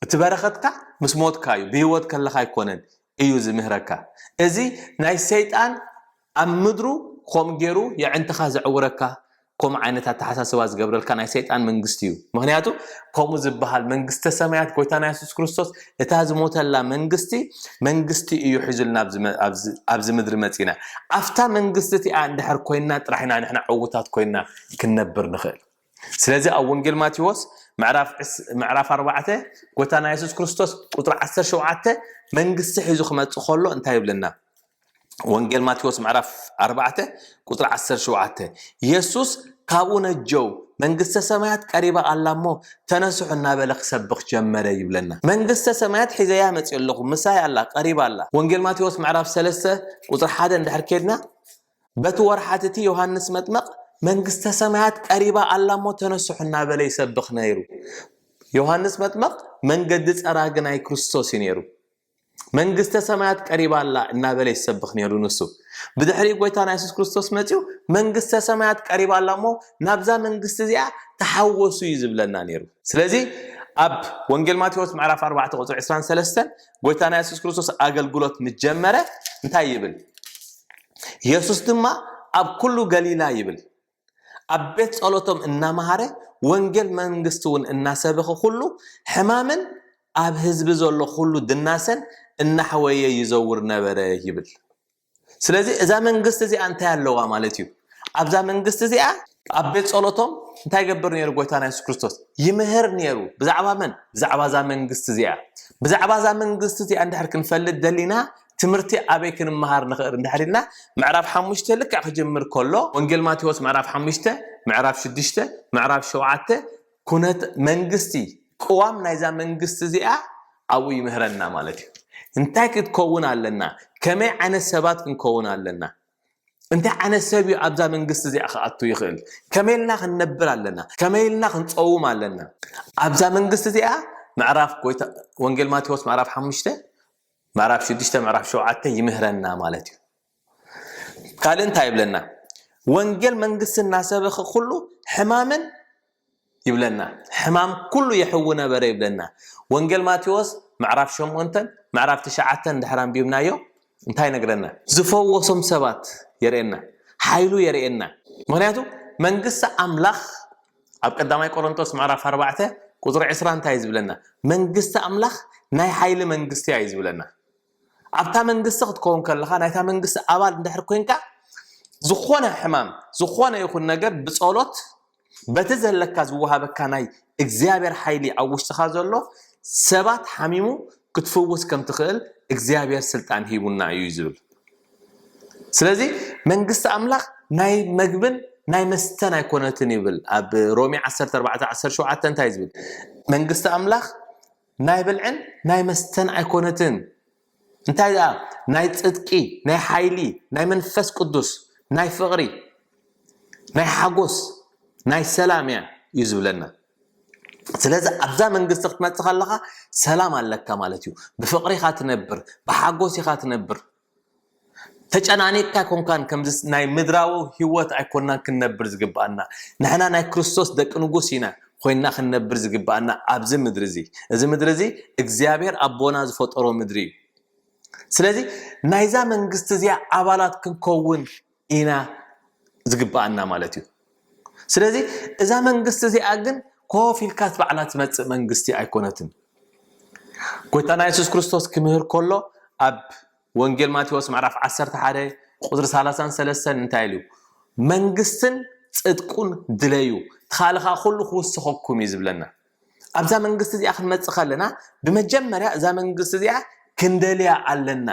እቲ በረኸትካ ምስ ሞትካ እዩ ብህይወት ከለኻ ኣይኮነን። እዩ ዝምህረካ እዚ ናይ ሰይጣን ኣብ ምድሩ ኮም ገሩ የዕንትኻ ዘዕውረካ ኮም ዓይነት ኣተሓሳስባ ዝገብረልካ ናይ ሰይጣን መንግስቲ እዩ ምክንያቱ ከምኡ ዝበሃል መንግስተ ሰማያት ጎይታና የሱስ ክርስቶስ እታ ዝሞተላ መንግስቲ መንግስቲ እዩ ሒዙልና ኣብዚ ምድሪ መፂና ኣብታ መንግስቲ እቲኣ እንድሕር ኮይንና ጥራሕ ኢና ንሕና ዕውታት ኮይንና ክንነብር ንኽእል ስለዚ ኣብ ወንጌል ማቴዎስ ምዕራፍ ኣርባዕተ ጎታና የሱስ ክርስቶስ ቁፅሪ ዓሰርተ ሸውዓተ መንግስቲ ሒዙ ክመፅእ ከሎ እንታይ ይብለና? ወንጌል ማቴዎስ ምዕራፍ ኣርባዕተ ቁፅሪ ዓሰርተ ሸውዓተ የሱስ ካብኡ ነጀው መንግስተ ሰማያት ቀሪባ ኣላ እሞ ተነስሑ እናበለ ክሰብኽ ጀመረ ይብለና መንግስተ ሰማያት ሒዘያ መፅኦ ኣለኹ ምሳይ ኣላ ቀሪባ ኣላ ወንጌል ማቴዎስ ምዕራፍ ሰለስተ ቁፅሪ ሓደ እንድሕር ኬድና በቲ ወርሓት እቲ ዮሃንስ መጥመቕ መንግስተ ሰማያት ቀሪባ ኣላ እሞ ተነስሑ እናበለ ይሰብኽ ነይሩ። ዮሃንስ መጥመቕ መንገዲ ጸራጊ ናይ ክርስቶስ እዩ ነይሩ። መንግስተ ሰማያት ቀሪባ ኣላ እናበለ ይሰብኽ ነይሩ ንሱ። ብድሕሪ ጎይታና የሱስ ክርስቶስ መጺኡ መንግስተ ሰማያት ቀሪባ ኣላ እሞ ናብዛ መንግስቲ እዚኣ ተሓወሱ እዩ ዝብለና ነይሩ። ስለዚ ኣብ ወንጌል ማቴዎስ ምዕራፍ 4 ቁጽሪ 23 ጎይታና የሱስ ክርስቶስ ኣገልግሎት ምስ ጀመረ እንታይ ይብል? የሱስ ድማ ኣብ ኩሉ ገሊላ ይብል ኣብ ቤት ጸሎቶም እናመሃረ ወንጌል መንግስቲ እውን እናሰበኸ ኩሉ ሕማምን ኣብ ህዝቢ ዘሎ ኩሉ ድናሰን እናሕወየ ይዘውር ነበረ ይብል። ስለዚ እዛ መንግስቲ እዚኣ እንታይ ኣለዋ ማለት እዩ ኣብዛ መንግስቲ እዚኣ ኣብ ቤት ጸሎቶም እንታይ ገብር ነይሩ ጎይታና የሱስ ክርስቶስ ይምህር ነይሩ ብዛዕባ መን ብዛዕባ እዛ መንግስቲ እዚኣ ብዛዕባ እዛ መንግስቲ እዚኣ እንድሕር ክንፈልጥ ደሊና ትምህርቲ ኣበይ ክንምሃር ንኽእል እንድሕር ኢልና ምዕራፍ ሓሙሽተ ልክዕ ክጅምር ከሎ ወንጌል ማቴዎስ ምዕራፍ ሓሙሽተ ምዕራፍ ሽዱሽተ ምዕራፍ ሸውዓተ ኩነት መንግስቲ ቅዋም ናይዛ መንግስቲ እዚኣ ኣብኡ ይምህረና ማለት እዩ እንታይ ክትከውን ኣለና ከመይ ዓይነት ሰባት ክንከውን ኣለና እንታይ ዓይነት ሰብ እዩ ኣብዛ መንግስቲ እዚኣ ክኣቱ ይኽእል ከመይ ኢልና ክንነብር ኣለና ከመይ ኢልና ክንፀውም ኣለና ኣብዛ መንግስቲ እዚኣ ምዕራፍ ጎይታ ወንጌል ማቴዎስ ምዕራፍ ሓሙሽተ ምዕራፍ ሽዱሽተ ምዕራፍ ሸውዓተ ይምህረና ማለት እዩ ካልእ እንታይ ይብለና ወንጌል መንግስቲ እናሰበኸ ኩሉ ሕማምን ይብለና ሕማም ኩሉ የሕዊ ነበረ ይብለና ወንጌል ማቴዎስ ምዕራፍ ሸምንተን ምዕራፍ ትሽዓተን ድሕር ኣንቢብናዮ እንታይ ነግረና ዝፈወሶም ሰባት የርእየና ሓይሉ የርእየና ምክንያቱ መንግስቲ ኣምላኽ ኣብ ቀዳማይ ቆሮንጦስ ምዕራፍ ኣርባዕተ ቁፅሪ ዕስራ እንታይ እዩ ዝብለና መንግስቲ ኣምላኽ ናይ ሓይሊ መንግስቲ እዩ ዝብለና ኣብታ መንግስቲ ክትከውን ከለኻ ናይታ መንግስቲ ኣባል እንድሕር ኮንካ ዝኾነ ሕማም ዝኾነ ይኹን ነገር ብጸሎት በቲ ዘለካ ዝወሃበካ ናይ እግዚኣብሔር ሓይሊ ኣብ ውሽጥኻ ዘሎ ሰባት ሓሚሙ ክትፍውስ ከም ትኽእል እግዚኣብሔር ስልጣን ሂቡና እዩ ዝብል ስለዚ መንግስቲ ኣምላኽ ናይ መግብን ናይ መስተን ኣይኮነትን ይብል ኣብ ሮሜ 1417 እንታይ ዝብል መንግስቲ ኣምላኽ ናይ ብልዕን ናይ መስተን ኣይኮነትን እንታይ ደኣ ናይ ጽድቂ ናይ ሓይሊ ናይ መንፈስ ቅዱስ ናይ ፍቕሪ ናይ ሓጎስ ናይ ሰላም እያ እዩ ዝብለና ስለዚ ኣብዛ መንግስቲ ክትመጽእ ከለኻ ሰላም ኣለካ ማለት እዩ ብፍቕሪ ኢኻ ትነብር ብሓጎስ ኢኻ ትነብር ተጨናኒቕካ ኣይኮንካን ከምዚ ናይ ምድራዊ ህይወት ኣይኮንናን ክንነብር ዝግብኣና ንሕና ናይ ክርስቶስ ደቂ ንጉስ ኢና ኮይና ክንነብር ዝግብኣና ኣብዚ ምድሪ እዚ እዚ ምድሪ እዚ እግዚኣብሔር ኣቦና ዝፈጠሮ ምድሪ እዩ ስለዚ ናይዛ መንግስቲ እዚኣ ኣባላት ክንከውን ኢና ዝግበኣና ማለት እዩ ስለዚ እዛ መንግስቲ እዚኣ ግን ኮፍ ኢልካ ባዕላ ትመፅእ መንግስቲ ኣይኮነትን ጎይታና የሱስ ክርስቶስ ክምህር ከሎ ኣብ ወንጌል ማቴዎስ ምዕራፍ 11 ቁፅሪ 33 እንታይ ኢሉ መንግስትን ፅድቁን ድለዩ ትኻልኻ ኩሉ ክውስኸኩም እዩ ዝብለና ኣብዛ መንግስቲ እዚኣ ክንመፅእ ከለና ብመጀመርያ እዛ መንግስቲ እዚኣ ክንደልያ ኣለና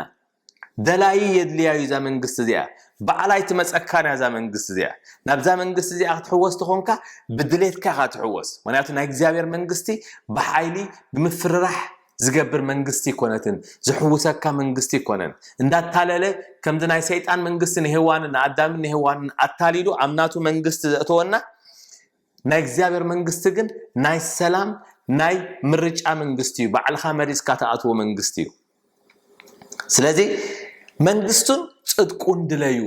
ደላዪ የድልያ'ዩ እዛ መንግስቲ እዚኣ፣ ባዕላ ኣይትመጸካን'ያ እዛ መንግስቲ እዚኣ፣ ናብዛ መንግስቲ እዚኣ ክትሕወስ ተኾንካ ብድሌትካ ኢኻ ትሕወስ፣ ምኽንያቱ ናይ እግዚኣብሔር መንግስቲ ብሓይሊ ብምፍርራሕ ዝገብር መንግስቲ ኣይኮነትን፣ ዝሕውሰካ መንግስቲ ኣይኮነን፣ እንዳታለለ ከምዚ ናይ ሰይጣን መንግስቲ ንሄዋንን ንኣዳምን ንሄዋንን ኣታሊሉ ኣብ ናቱ መንግስቲ ዘእተወና ናይ እግዚኣብሔር መንግስቲ ግን ናይ ሰላም ናይ ምርጫ መንግስቲ እዩ፣ ባዕልኻ መሪጽካ ትኣትዎ መንግስቲ እዩ። ስለዚ መንግስቱን ጽድቁን ድለዩ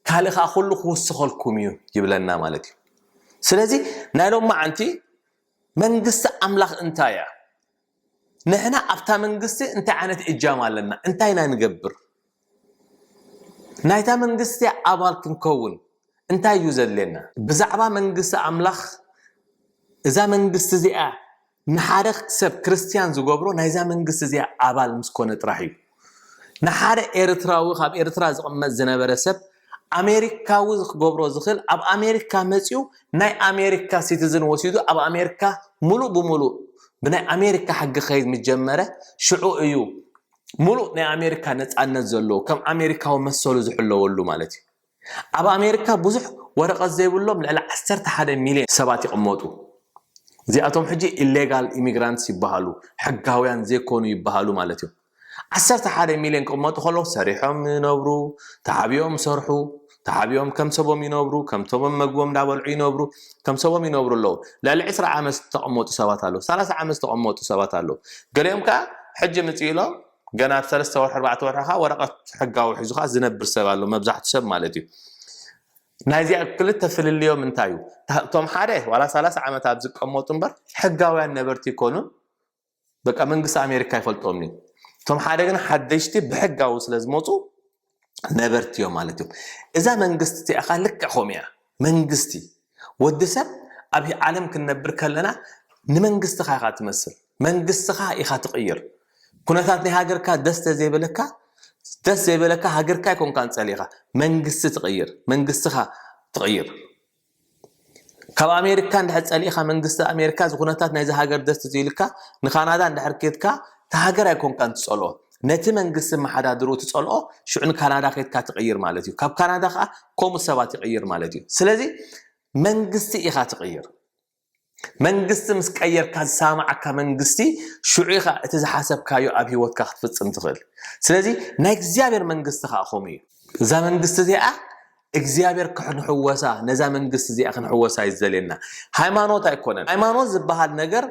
ካልእ ከኣ ኩሉ ክውስኸልኩም እዩ ይብለና ማለት እዩ ስለዚ ናይ ሎም መዓንቲ መንግስቲ ኣምላኽ እንታይ እያ ንሕና ኣብታ መንግስቲ እንታይ ዓይነት እጃም ኣለና እንታይ ኢና ንገብር ናይታ መንግስቲ ኣባል ክንከውን እንታይ እዩ ዘድልየና ብዛዕባ መንግስቲ ኣምላኽ እዛ መንግስቲ እዚኣ ንሓደ ሰብ ክርስትያን ዝገብሮ ናይዛ መንግስቲ እዚኣ ኣባል ምስ ኮነ ጥራሕ እዩ። ንሓደ ኤርትራዊ ካብ ኤርትራ ዝቕመጥ ዝነበረ ሰብ ኣሜሪካዊ ክገብሮ ዝኽእል ኣብ ኣሜሪካ መጺኡ ናይ ኣሜሪካ ሲቲዝን ወሲዱ ኣብ ኣሜሪካ ሙሉእ ብሙሉእ ብናይ ኣሜሪካ ሕጊ ክኸይድ ምስ ጀመረ ሽዑ እዩ ሙሉእ ናይ ኣሜሪካ ነጻነት ዘለዎ ከም ኣሜሪካዊ መሰሉ ዝሕለወሉ ማለት እዩ። ኣብ ኣሜሪካ ብዙሕ ወረቐት ዘይብሎም ልዕሊ ዓሰርተ ሓደ ሚልዮን ሰባት ይቕመጡ። እዚኣቶም ሕጂ ኢሌጋል ኢሚግራንትስ ይበሃሉ፣ ሕጋውያን ዘይኮኑ ይበሃሉ ማለት እዩ። ዓሰርተ ሓደ ሚልዮን ክቕመጡ ከለዉ ሰሪሖም ይነብሩ፣ ተዓብዮም ይሰርሑ፣ ተዓብዮም ከም ሰቦም ይነብሩ፣ ከም ሰቦም መግቦም እንዳበልዑ ይነብሩ፣ ከም ሰቦም ይነብሩ ኣለዉ። ልዕሊ ዕስራ ዓመት ዝተቐመጡ ሰባት ኣለዉ፣ ሰላሳ ዓመት ዝተቐመጡ ሰባት ኣለዉ። ገሊኦም ከኣ ሕጂ ምጽእ ኢሎም ገና ኣብ ሰለስተ ወርሒ ኣርባዕተ ወርሒ ከኣ ወረቐት ሕጋዊ ሒዙ ከኣ ዝነብር ሰብ ኣሎ መብዛሕቱ ሰብ ማለት እዩ ናይ እዚኣ ክልተ ፍልልዮም እንታይ እዩ እቶም ሓደ ዋላ ሰላሳ ዓመት ኣብ ዝቀመጡ እምበር ሕጋውያን ነበርቲ ይኮኑን በቃ መንግስቲ ኣሜሪካ ይፈልጦም እዩ እቶም ሓደ ግን ሓደሽቲ ብሕጋዊ ስለ ዝመፁ ነበርቲዮ ማለት እዩ እዛ መንግስቲ እቲኣኻ ልክዕ ከምኡ እያ መንግስቲ ወዲ ሰብ ኣብ ዓለም ክንነብር ከለና ንመንግስትኻ ኢኻ ትመስል መንግስትኻ ኢኻ ትቕይር ኩነታት ናይ ሃገርካ ደስ ተዘይበለካ ደስ ዘይበለካ ሃገርካ ይኮንካ ንጸሊኻ መንግስቲ ትቕይር መንግስትኻ ትቕይር ካብ ኣሜሪካ እንድሕር ጸሊእኻ መንግስቲ ኣሜሪካ እዚ ኩነታት ናይዚ ሃገር ደስ ተዘይሉካ ንካናዳ እንድሕር ኬድካ እታ ሃገር ኣይኮንካን ትጸልኦ ነቲ መንግስቲ መሓዳድሩ ትጸልኦ ሽዑ ንካናዳ ኬድካ ትቕይር ማለት እዩ ካብ ካናዳ ከኣ ከምኡ ሰባት ይቕይር ማለት እዩ ስለዚ መንግስቲ ኢኻ ትቕይር መንግስቲ ምስ ቀየርካ ዝሰማማዓካ መንግስቲ ሽዑ ኢኻ እቲ ዝሓሰብካዮ ኣብ ሂወትካ ክትፍጽም ትኽእል ስለዚ ናይ እግዚኣብሔር መንግስቲ ከዓ ከምኡ እዩ እዛ መንግስቲ እዚኣ እግዚኣብሔር ክንሕወሳ ነዛ መንግስቲ እዚኣ ክንሕወሳ እዩ ዝደልየና ሃይማኖት ኣይኮነን ሃይማኖት ዝበሃል ነገር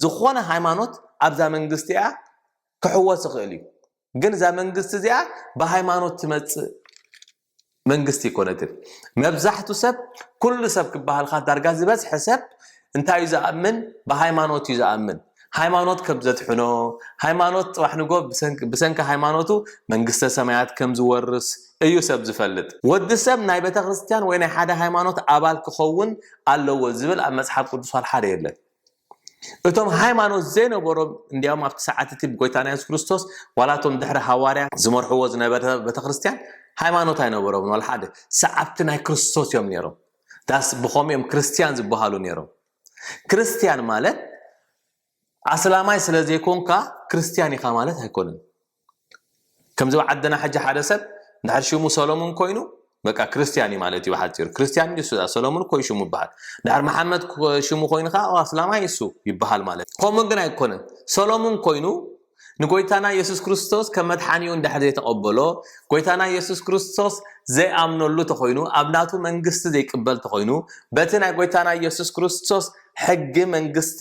ዝኾነ ሃይማኖት ኣብዛ መንግስቲ እያ ክሕወስ ይኽእል እዩ ግን እዛ መንግስቲ እዚኣ ብሃይማኖት ትመፅእ መንግስቲ ኣይኮነትን መብዛሕቱ ሰብ ኩሉ ሰብ ክበሃልካ ዳርጋ ዝበዝሐ ሰብ እንታይ እዩ ዝኣምን ብሃይማኖት እዩ ዝኣምን ሃይማኖት ከም ዘትሕኖ ሃይማኖት ፅባሕ ንጎ ብሰንኪ ሃይማኖቱ መንግስተ ሰማያት ከም ዝወርስ እዩ ሰብ ዝፈልጥ ወዲ ሰብ ናይ ቤተ ክርስትያን ወይ ናይ ሓደ ሃይማኖት ኣባል ክኸውን ኣለዎ ዝብል ኣብ መፅሓፍ ቅዱስ ሓደ የለን እቶም ሃይማኖት ዘይነበሮም እንዲያውም ኣብቲ ሰዓት እቲ ብጎይታና የሱስ ክርስቶስ ዋላ እቶም ድሕሪ ሃዋርያት ዝመርሕዎ ዝነበረ ቤተ ክርስቲያን ሃይማኖት ኣይነበሮምን ዋላ ሓደ ሰዓብቲ ናይ ክርስቶስ እዮም ነይሮም ዳስ ብኸምኡ እዮም ክርስቲያን ዝበሃሉ ነይሮም ክርስቲያን ማለት ኣስላማይ ስለ ዘይኮንካ ክርስቲያን ኢኻ ማለት ኣይኮነን ከምዚ ኣብ ዓድና ሕጂ ሓደ ሰብ እንድሕር ሽሙ ሰሎሙን ኮይኑ በቃ ክርስትያን እዩ ማለት እዩ ብሓፂሩ ክርስትያን እዩ እሱ ሰሎሙን እኮ እዩ ሽሙ ይበሃል እንድሕር መሓመድ ሽሙ ኮይኑ ከዓ ኣስላማይ እሱ ይበሃል ማለት እዩ ከምኡ ግን ኣይኮነን ሰሎሙን ኮይኑ ንጎይታና የሱስ ክርስቶስ ከም መድሓኒኡ እንድሕር ዘይተቐበሎ ጎይታና የሱስ ክርስቶስ ዘይኣምነሉ ተኾይኑ ኣብ ናቱ መንግስቲ ዘይቅበል ተኾይኑ በቲ ናይ ጎይታና የሱስ ክርስቶስ ሕጊ መንግስቲ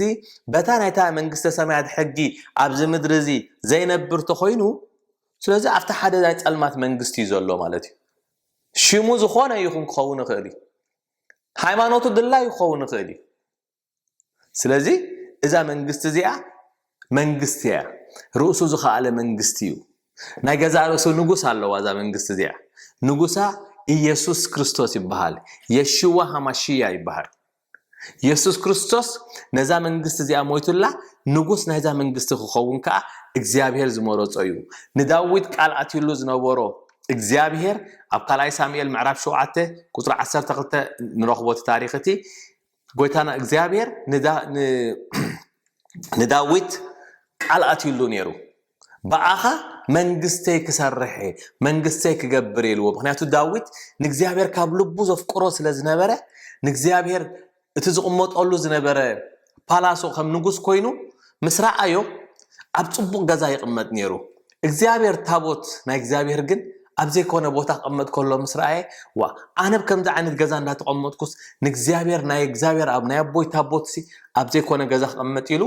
በታ ናይታ መንግስተ ሰማያት ሕጊ ኣብዚ ምድሪ እዚ ዘይነብር ተኾይኑ ስለዚ ኣብቲ ሓደ ናይ ጸልማት መንግስቲ እዩ ዘሎ ማለት እዩ ሽሙ ዝኾነ ይኹን ክኸውን ይኽእል እዩ ሃይማኖቱ ድላይ ክኸውን ይኽእል እዩ ስለዚ እዛ መንግስቲ እዚኣ መንግስቲ እያ ርእሱ ዝኸኣለ መንግስቲ እዩ ናይ ገዛ ርእሱ ንጉስ ኣለዋ እዛ መንግስቲ እዚኣ ንጉሳ ኢየሱስ ክርስቶስ ይበሃል የሽዋ ሃማሽያ ይበሃል የሱስ ክርስቶስ ነዛ መንግስቲ እዚኣ ሞይቱላ ንጉስ ናይዛ መንግስቲ ክኸውን ከኣ እግዚኣብሄር ዝመረጾ እዩ። ንዳዊት ቃል ኣትዩሉ ዝነበሮ እግዚኣብሄር ኣብ ካልኣይ ሳሙኤል ምዕራፍ ሸውዓተ ቁጽሪ ዓሰርተ ክልተ ንረኽቦ እቲ ታሪኽ እቲ ጎይታና እግዚኣብሄር ንዳዊት ቃል ኣትዩሉ ነይሩ። ብኣኻ መንግስተይ ክሰርሕ እየ፣ መንግስተይ ክገብር እየ ኢልዎ። ምኽንያቱ ዳዊት ንእግዚኣብሔር ካብ ልቡ ዘፍቅሮ ስለ ዝነበረ፣ ንእግዚኣብሔር እቲ ዝቕመጠሉ ዝነበረ ፓላሶ ከም ንጉስ ኮይኑ ምስ ረኣዮ ኣብ ጽቡቕ ገዛ ይቕመጥ ነይሩ። እግዚኣብሔር ታቦት ናይ እግዚኣብሔር ግን ኣብ ዘይኮነ ቦታ ክቕመጥ ከሎ ምስ ረኣየ ዋ ኣነብ ከምዚ ዓይነት ገዛ እንዳተቐመጥኩስ ንእግዚኣብሔር ናይ እግዚኣብሔር ኣብ ናይ ኣቦይ ታቦትሲ ኣብ ዘይኮነ ገዛ ክቕመጥ ኢሉ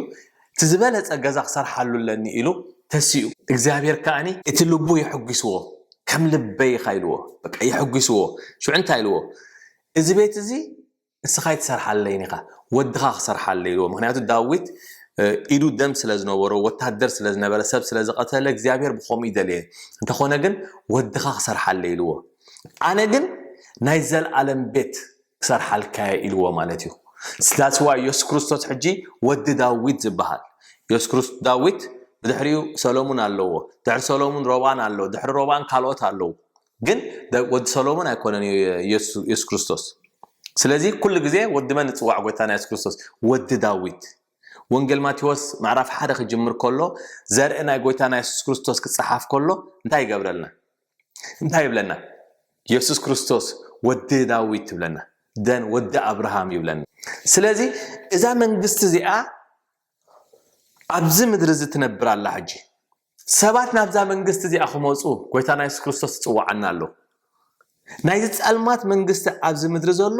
እቲ ዝበለጸ ገዛ ክሰርሓሉ ኣለኒ ኢሉ ተሲኡ። እግዚኣብሄር ከኣ እቲ ልቡ የሐጒስዎ፣ ከም ልበይ ኢኻ ኢልዎ። በቃ የሐጒስዎ። ሽዑ እንታይ ኢልዎ፣ እዚ ቤት እዚ ንስኻ ኣይትሰርሓለይን ኢኻ፣ ወድኻ ክሰርሓለይ ኢልዎ። ምኽንያቱ ዳዊት ኢዱ ደም ስለ ዝነበሮ፣ ወታደር ስለ ዝነበረ፣ ሰብ ስለ ዝቐተለ፣ እግዚኣብሄር ብኸምኡ ይደለየ። እንተኾነ ግን ወድኻ ክሰርሓለይ ኢልዎ። ኣነ ግን ናይ ዘለኣለም ቤት ክሰርሓልካ እየ ኢልዎ ማለት እዩ That's why የሱስ ክርስቶስ ሕጂ ወዲ ዳዊት ዝበሃል የሱስ ክርስቶስ ዳዊት ብድሕሪኡ ሰሎሙን ኣለዎ ድሕሪ ሰሎሙን ሮብኣን ኣሎ ድሕሪ ሮብኣን ካልኦት ኣለዉ ግን ወዲ ሰሎሙን ኣይኮነን እዩ የሱስ ክርስቶስ ስለዚ ኩሉ ግዜ ወዲ መን ንፅዋዕ ጎይታና የሱስ ክርስቶስ ወዲ ዳዊት ወንጌል ማቴዎስ ምዕራፍ ሓደ ክጅምር ከሎ ዘርኢ ናይ ጎይታና የሱስ ክርስቶስ ክፀሓፍ ከሎ እንታይ ይገብረልና እንታይ ይብለና የሱስ ክርስቶስ ወዲ ዳዊት ይብለና ደን ወዲ ኣብርሃም ይብለና ስለዚ እዛ መንግስቲ እዚኣ ኣብዚ ምድሪ እዚ ትነብር ኣላ ሕጂ ሰባት ናብዛ መንግስቲ እዚኣ ክመፁ ጎይታና የሱስ ክርስቶስ ትፅዋዓና ኣሎ ናይዚ ፀልማት መንግስቲ ኣብዚ ምድሪ ዘሎ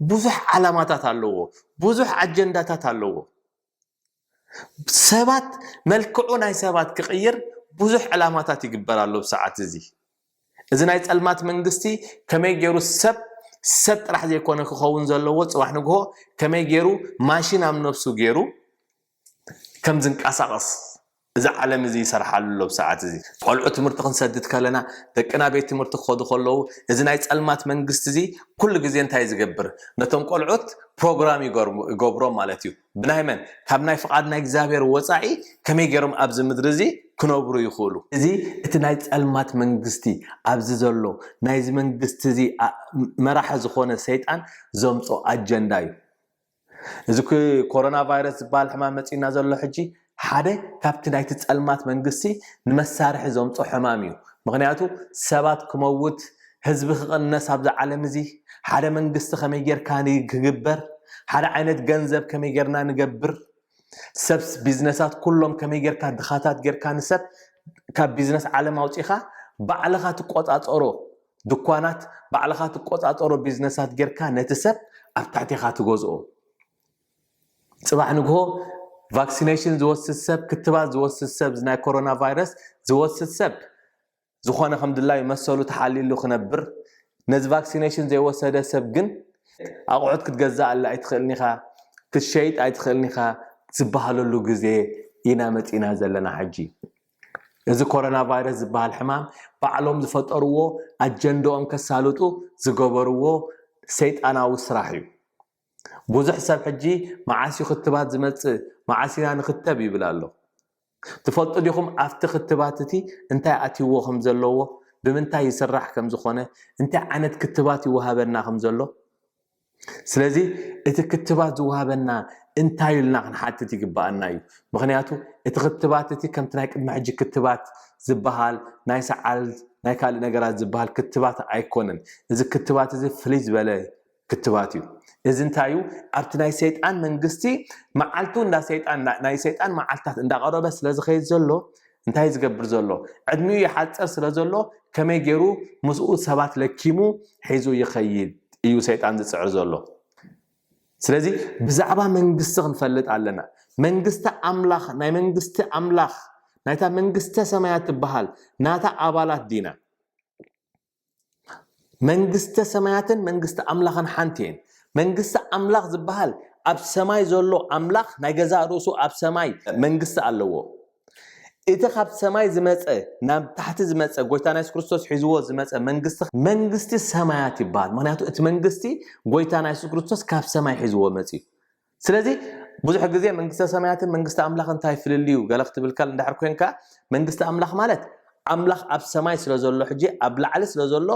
ብዙሕ ዓላማታት ኣለዎ ብዙሕ ኣጀንዳታት ኣለዎ ሰባት መልክዑ ናይ ሰባት ክቕይር ብዙሕ ዕላማታት ይግበር ኣሎ ብሰዓት እዚ እዚ ናይ ጸልማት መንግስቲ ከመይ ገይሩ ሰብ ሰብ ጥራሕ ዘይኮነ ክኸውን ዘለዎ ጽባሕ ንግሆ ከመይ ገይሩ ማሽን ኣብ ነብሱ ገይሩ ከም ዝንቀሳቐስ እዚ ዓለም እዚ ይሰርሓሉ ኣሎ ብሰዓት እዚ። ቆልዑ ትምህርቲ ክንሰድድ ከለና ደቅና ቤት ትምህርቲ ክኸዱ ከለዉ እዚ ናይ ጸልማት መንግስቲ እዚ ኩሉ ግዜ እንታይ እዩ ዝገብር ነቶም ቆልዑት ፕሮግራም ይገብሮም ማለት እዩ ብናይ መን ካብ ናይ ፍቓድ ናይ እግዚኣብሔር ወጻኢ ከመይ ገይሮም ኣብዚ ምድሪ እዚ ክነብሩ ይኽእሉ እዚ እቲ ናይ ጸልማት መንግስቲ ኣብዚ ዘሎ ናይዚ መንግስቲ እዚ መራሒ ዝኾነ ሰይጣን ዘምጾ ኣጀንዳ እዩ። እዚ ኮሮና ቫይረስ ዝበሃል ሕማም መጺና ዘሎ ሕጂ ሓደ ካብቲ ናይቲ ጸልማት መንግስቲ ንመሳርሒ ዘምጾ ሕማም እዩ ምክንያቱ ሰባት ክመውት ህዝቢ ክቕነስ ኣብዚ ዓለም እዚ ሓደ መንግስቲ ከመይ ጌርካ ክግበር ሓደ ዓይነት ገንዘብ ከመይ ጌርና ንገብር ሰብስ ቢዝነሳት ኩሎም ከመይ ጌርካ ድኻታት ጌርካ ንሰብ ካብ ቢዝነስ ዓለም ኣውጺኻ ባዕልኻ ትቆጻጸሮ ድኳናት ባዕልኻ ትቆጻጸሮ ቢዝነሳት ጌርካ ነቲ ሰብ ኣብ ትሕቴኻ ትገዝኦ ጽባሕ ንግሆ ቫክሲነሽን ዝወስድ ሰብ ክትባት ዝወስድ ሰብ ናይ ኮሮና ቫይረስ ዝወስድ ሰብ ዝኾነ ከም ድላዩ መሰሉ ተሓሊሉ ክነብር ነዚ ቫክሲነሽን ዘይወሰደ ሰብ ግን ኣቑሑት ክትገዛኣለ ኣይትኽእልን ኢኻ ክትሸይጥ ኣይትኽእልን ኢኻ ዝበሃለሉ ግዜ ኢና መፂና ዘለና ሕጂ እዚ ኮሮና ቫይረስ ዝበሃል ሕማም ባዕሎም ዝፈጠርዎ ኣጀንድኦም ከሳልጡ ዝገበርዎ ሰይጣናዊ ስራሕ እዩ። ብዙሕ ሰብ ሕጂ መዓስ እዩ ክትባት ዝመጽእ መዓስ ኢና ንኽተብ ይብል ኣሎ። ትፈልጡ ዲኹም ኣብቲ ክትባት እቲ እንታይ ኣትይዎ ከም ዘለዎ፣ ብምንታይ ይስራሕ ከም ዝኾነ፣ እንታይ ዓይነት ክትባት ይወሃበና ከም ዘሎ? ስለዚ እቲ ክትባት ዝወሃበና እንታይ ኢልና ክንሓትት ይግባኣና እዩ ምክንያቱ እቲ ክትባት እቲ ከምቲ ናይ ቅድሚ ሕጂ ክትባት ዝበሃል ናይ ሰዓል ናይ ካልእ ነገራት ዝበሃል ክትባት ኣይኮነን እዚ ክትባት እዚ ፍልይ ዝበለ ክትባት እዩ እዚ እንታይ እዩ ኣብቲ ናይ ሰይጣን መንግስቲ መዓልቱ እንዳ ሰይጣን ናይ ሰይጣን መዓልትታት እንዳቐረበ ስለዝኸይድ ዘሎ እንታይ ዝገብር ዘሎ ዕድሚኡ ይሓጽር ስለ ዘሎ ከመይ ገይሩ ምስኡ ሰባት ለኪሙ ሒዙ ይኸይድ እዩ ሰይጣን ዝጽዕር ዘሎ ስለዚ ብዛዕባ መንግስቲ ክንፈልጥ ኣለና መንግስቲ ኣምላኽ ናይ መንግስቲ ኣምላኽ ናይታ መንግስተ ሰማያት ትበሃል ናታ ኣባላት ዲና መንግስተ ሰማያትን መንግስቲ ኣምላኽን ሓንቲ እየን መንግስቲ ኣምላኽ ዝበሃል ኣብ ሰማይ ዘሎ ኣምላኽ ናይ ገዛእ ርእሱ ኣብ ሰማይ መንግስቲ ኣለዎ እቲ ካብ ሰማይ ዝመፀ ናብ ታሕቲ ዝመፀ ጎይታ ናይ ክርስቶስ ሒዝዎ ዝመፀ መንግስቲ መንግስቲ ሰማያት ይበሃል ምክንያቱ እቲ መንግስቲ ጎይታ ናይ የሱስ ክርስቶስ ካብ ሰማይ ሒዝዎ መፅዩ ስለዚ ብዙሕ ግዜ መንግስተ ሰማያትን መንግስቲ ኣምላኽ እንታይ ፍልልዩ ገለ ክትብል ካል እንድሕር ኮንካ መንግስቲ ኣምላኽ ማለት ኣምላኽ ኣብ ሰማይ ስለ ዘሎ ሕጂ ኣብ ላዕሊ ስለ ዘሎ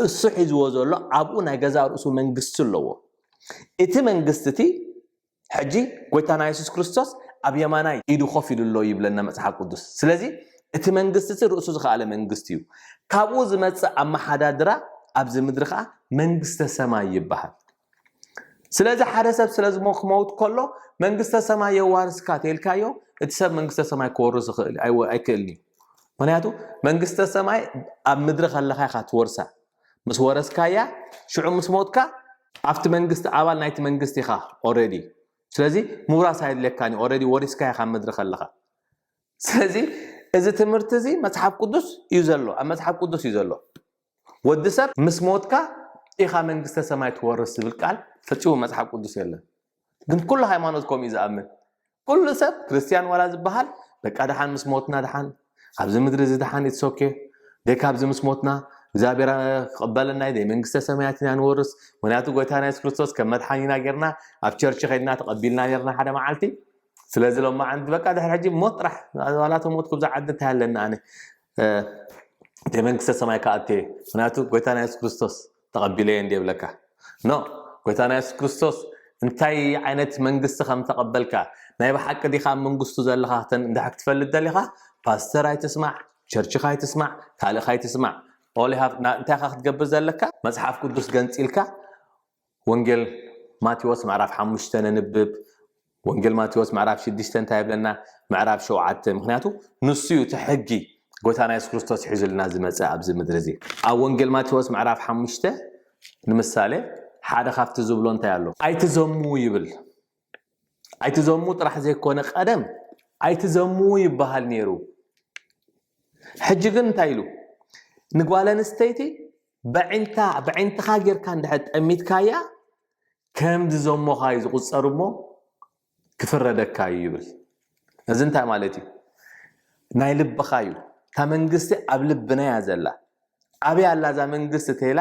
እሱ ሒዝዎ ዘሎ ኣብኡ ናይ ገዛ ርእሱ መንግስቲ ኣለዎ እቲ መንግስቲ እቲ ሕጂ ጎይታና የሱስ ክርስቶስ ኣብ የማናይ ኢዱ ኮፍ ኢሉ ኣሎ ይብለና መጽሓፍ ቅዱስ ስለዚ እቲ መንግስቲ እቲ ርእሱ ዝኸኣለ መንግስቲ እዩ ካብኡ ዝመጽእ ኣመሓዳድራ ኣብዚ ምድሪ ከዓ መንግስተ ሰማይ ይበሃል ስለዚ ሓደ ሰብ ስለ ዝሞ ክመውት ከሎ መንግስተ ሰማይ የዋርስካ ተልካዮ እቲ ሰብ መንግስተ ሰማይ ክወርስ ይኽእል ኣይወ- ኣይክእልን እዩ ምክንያቱ መንግስተ ሰማይ ኣብ ምድሪ ከለካ ኢካ ትወርሳ ምስ ወረስካያ ሽዑ ምስ ሞትካ ኣብቲ መንግስቲ ኣባል ናይቲ መንግስቲ ኢካ ኦረዲ ስለዚ ምውራስ ኣየድልየካን እዩ ኦረዲ ወሪስካ ኢካ ኣብ ምድሪ ከለካ ስለዚ እዚ ትምህርቲ እዚ መጽሓፍ ቅዱስ እዩ ዘሎ ኣብ መጽሓፍ ቅዱስ እዩ ዘሎ ወዲ ሰብ ምስ ሞትካ ኢኻ መንግስተ ሰማይ ትወርስ ዝብል ቃል ፈጺሙ መጽሓፍ ቅዱስ የለን ግን ኩሉ ሃይማኖት ከምኡ እዩ ዝኣምን ኩሉ ሰብ ክርስትያን ዋላ ዝበሃል በቃ ድሓን ምስ ሞትና ድሓን ኣብዚ ምድሪ እዚ ድሓን ይትሶኬ ደካ ኣብዚ ምስ ሞትና እግዚኣብሔር ክቕበለና ዩ መንግስተ ሰማያት ኢና ንወርስ ምክንያቱ ጎይታ ናይ የሱስ ክርስቶስ ከም መድሓኒና ጌርና ኣብ ቸርች ከድና ተቐቢልና ነርና ሓደ መዓልቲ ስለዚ ሎማ ዓንቲ በቃ ድሕሪ ሕጂ ሞት ጥራሕ ዋላተ ሞት ኩብዛ ዓዲ እንታይ ኣለና ኣነ እቲ መንግስተ ሰማይ ክኣቱ እየ ምክንያቱ ጎይታና የሱስ ክርስቶስ ተቐቢለ እየ እንዲየ ብለካ ኖ ጎይታና የሱስ ክርስቶስ እንታይ ዓይነት መንግስቲ ከም ተቐበልካ ናይ ብሓቂ ዲኻ ኣብ መንግስቱ ዘለኻ እንድሕር ክትፈልጥ ደሊኻ ፓስተር ኣይትስማዕ ቸርችኻ ኣይትስማዕ ካልእኻ ኣይትስማዕ እንታይ ኢኻ ክትገብር ዘለካ መፅሓፍ ቅዱስ ገንፂልካ ወንጌል ማቴዎስ ምዕራፍ ሓሙሽተ ነንብብ። ወንጌል ማቴዎስ ምዕራፍ ሽዱሽተ እንታይ ይብለና? ምዕራፍ ሸውዓተ ምክንያቱ ንሱ እዩ እቲ ሕጊ ጎይታና የሱስ ክርስቶስ ሒዙልና ዝመፀ ኣብዚ ምድሪ እዚ ኣብ ወንጌል ማቴዎስ ምዕራፍ ሓሙሽተ ንምሳሌ ሓደ ካብቲ ዝብሎ እንታይ ኣሎ? ኣይትዘሙ ይብል። ኣይትዘሙ ጥራሕ ዘይኮነ ቀደም ኣይትዘሙ ይበሃል ነይሩ። ሕጂ ግን እንታይ ኢሉ ንጓል ኣንስተይቲ በዒንታ በዒንትኻ ጌርካ እንድሕር ጠሚትካያ ከም ዝዘሞኻ እዩ ዝቑፀር እሞ ክፍረደካ እዩ ይብል። እዚ እንታይ ማለት እዩ? ናይ ልብኻ እዩ። እታ መንግስቲ ኣብ ልብና እያ ዘላ። ኣበይ ኣላ እዛ መንግስቲ ተይላ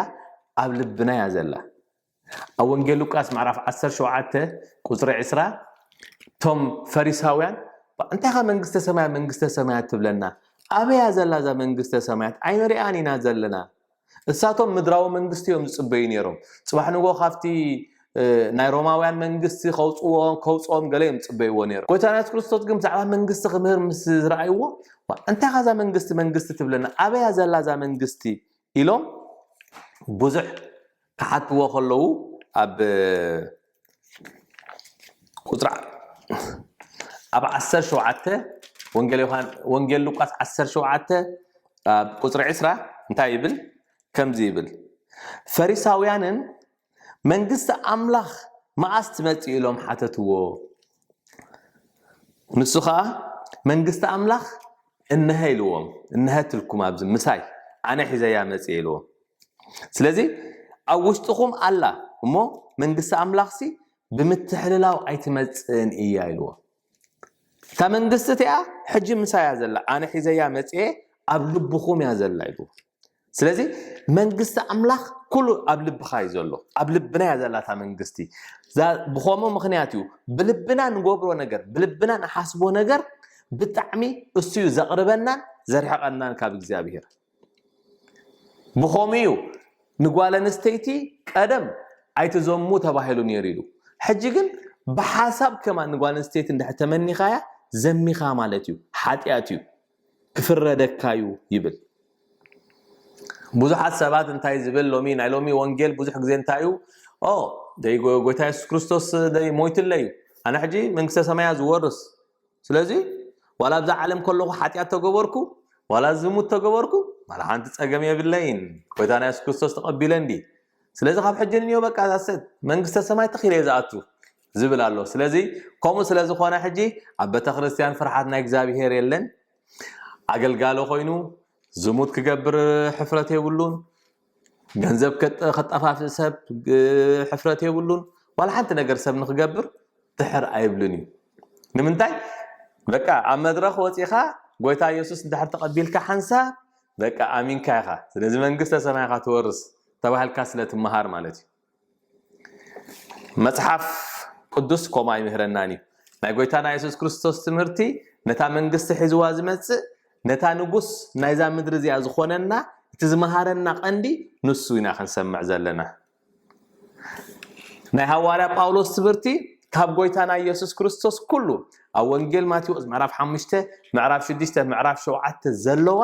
ኣብ ልብና እያ ዘላ። ኣብ ወንጌል ሉቃስ ምዕራፍ ዓሰርተ ሸውዓተ ቁፅሪ ዕስራ እቶም ፈሪሳውያን እንታይ ኸ መንግስተ ሰማያት መንግስተ ሰማያት ትብለና ኣበያ ዘላ እዛ መንግስተ ሰማያት ኣይንሪኣን ኢና ዘለና እሳቶም ምድራዊ መንግስቲ እዮም ዝፅበዩ ነይሮም ፅባሕ ንጎ ካብቲ ናይ ሮማውያን መንግስቲ ከውፅዎ ከውፅኦም ገለ እዮም ዝፅበይዎ ነይሮም ጎይታና የሱስ ክርስቶስ ግን ብዛዕባ መንግስቲ ክምህር ምስ ዝረኣይዎ እንታይ ካዛ መንግስቲ መንግስቲ ትብለና ኣበያ ዘላ እዛ መንግስቲ ኢሎም ብዙሕ ክሓትዎ ከለዉ ኣብ ቁፅሪ ኣብ ዓሰርተ ሸውዓተ ወንጌል ዮሃን ወንጌል ሉቃስ ዓሰርተ ሸውዓተ ኣብ ቁፅሪ ዕስራ እንታይ ይብል ከምዚ ይብል ፈሪሳውያንን መንግስቲ ኣምላኽ መኣስ ትመፅእ ኢሎም ሓተትዎ ንሱ ኸኣ መንግስቲ ኣምላኽ እነሀ ኢልዎም እነሀትልኩም ኣብዚ ምሳይ ኣነ ሒዘያ መጽእ ኢልዎም ስለዚ ኣብ ውሽጥኹም ኣላ እሞ መንግስቲ ኣምላኽሲ ብምትሕልላው ኣይትመጽእን እያ ኢልዎ እታ መንግስቲ እቲኣ ሕጂ ምሳያ ዘላ ኣነ ሒዘያ መጽኤ ኣብ ልብኹም እያ ዘላ ኢልዎ ስለዚ መንግስቲ ኣምላኽ ኩሉ ኣብ ልብኻ እዩ ዘሎ ኣብ ልብና እያ ዘላታ መንግስቲ ብኸምኡ ምክንያት እዩ ብልብና ንገብሮ ነገር ብልብና ንሓስቦ ነገር ብጣዕሚ እሱ እዩ ዘቕርበናን ዘርሕቐናን ካብ እግዚኣብሄር ብኸምኡ እዩ ንጓል ኣንስተይቲ ቀደም ኣይትዘሙ ተባሂሉ ነይሩ ኢሉ ሕጂ ግን ብሓሳብ ከማ ንጓል ኣንስተይቲ እንድሕር ተመኒኻያ ዘሚኻ ማለት እዩ ሓጢኣት እዩ ክፍረደካ እዩ ይብል ብዙሓት ሰባት እንታይ ዝብል ሎሚ ናይ ሎሚ ወንጌል ብዙሕ ግዜ እንታይ እዩ ኦ ደይ ጎይታ የሱስ ክርስቶስ ደይ ሞይቱለይ እዩ ኣነ ሕጂ መንግስተ ሰማያ ዝወርስ ስለዚ ዋላ ኣብዛ ዓለም ከለኹ ሓጢኣት ተገበርኩ ዋላ ዝሙት ተገበርኩ ዋላ ሓንቲ ፀገም የብለይን ጎይታ ናይ የሱስ ክርስቶስ ተቐቢለ እንዲ ስለዚ ካብ ሕጂ ንዮ በቃ ዛሰት መንግስተ ሰማይ ተኺለ እየ ዝኣቱ ዝብል ኣሎ ስለዚ ከምኡ ስለ ዝኾነ ሕጂ ኣብ ቤተክርስትያን ፍርሓት ናይ እግዚኣብሄር የለን ኣገልጋሊ ኮይኑ ዝሙት ክገብር ሕፍረት የብሉን ገንዘብ ከጠፋፍእ ሰብ ሕፍረት የብሉን ዋላ ሓንቲ ነገር ሰብ ንክገብር ድሕር ኣይብልን እዩ ንምንታይ በቃ ኣብ መድረኽ ወፂኻ ጎይታ ኢየሱስ እንድሕር ተቐቢልካ ሓንሳ በቃ ኣሚንካ ኢኻ ስለዚ መንግስተ ሰማይ ኢኻ ትወርስ ተባሂልካ ስለ ትመሃር ማለት እዩ መጽሓፍ ቅዱስ ከምኡ ኣይምህረናን እዩ ናይ ጎይታና የሱስ ክርስቶስ ትምህርቲ ነታ መንግስቲ ሒዝዋ ዝመጽእ ነታ ንጉስ ናይዛ ምድሪ እዚኣ ዝኾነና እቲ ዝመሃረና ቀንዲ ንሱ ኢና ክንሰምዕ ዘለና ናይ ሃዋርያ ጳውሎስ ትምህርቲ ካብ ጎይታና ኢየሱስ ክርስቶስ ኩሉ ኣብ ወንጌል ማቴዎስ ምዕራፍ 5 ምዕራፍ 6 ምዕራፍ 7 ዘለዋ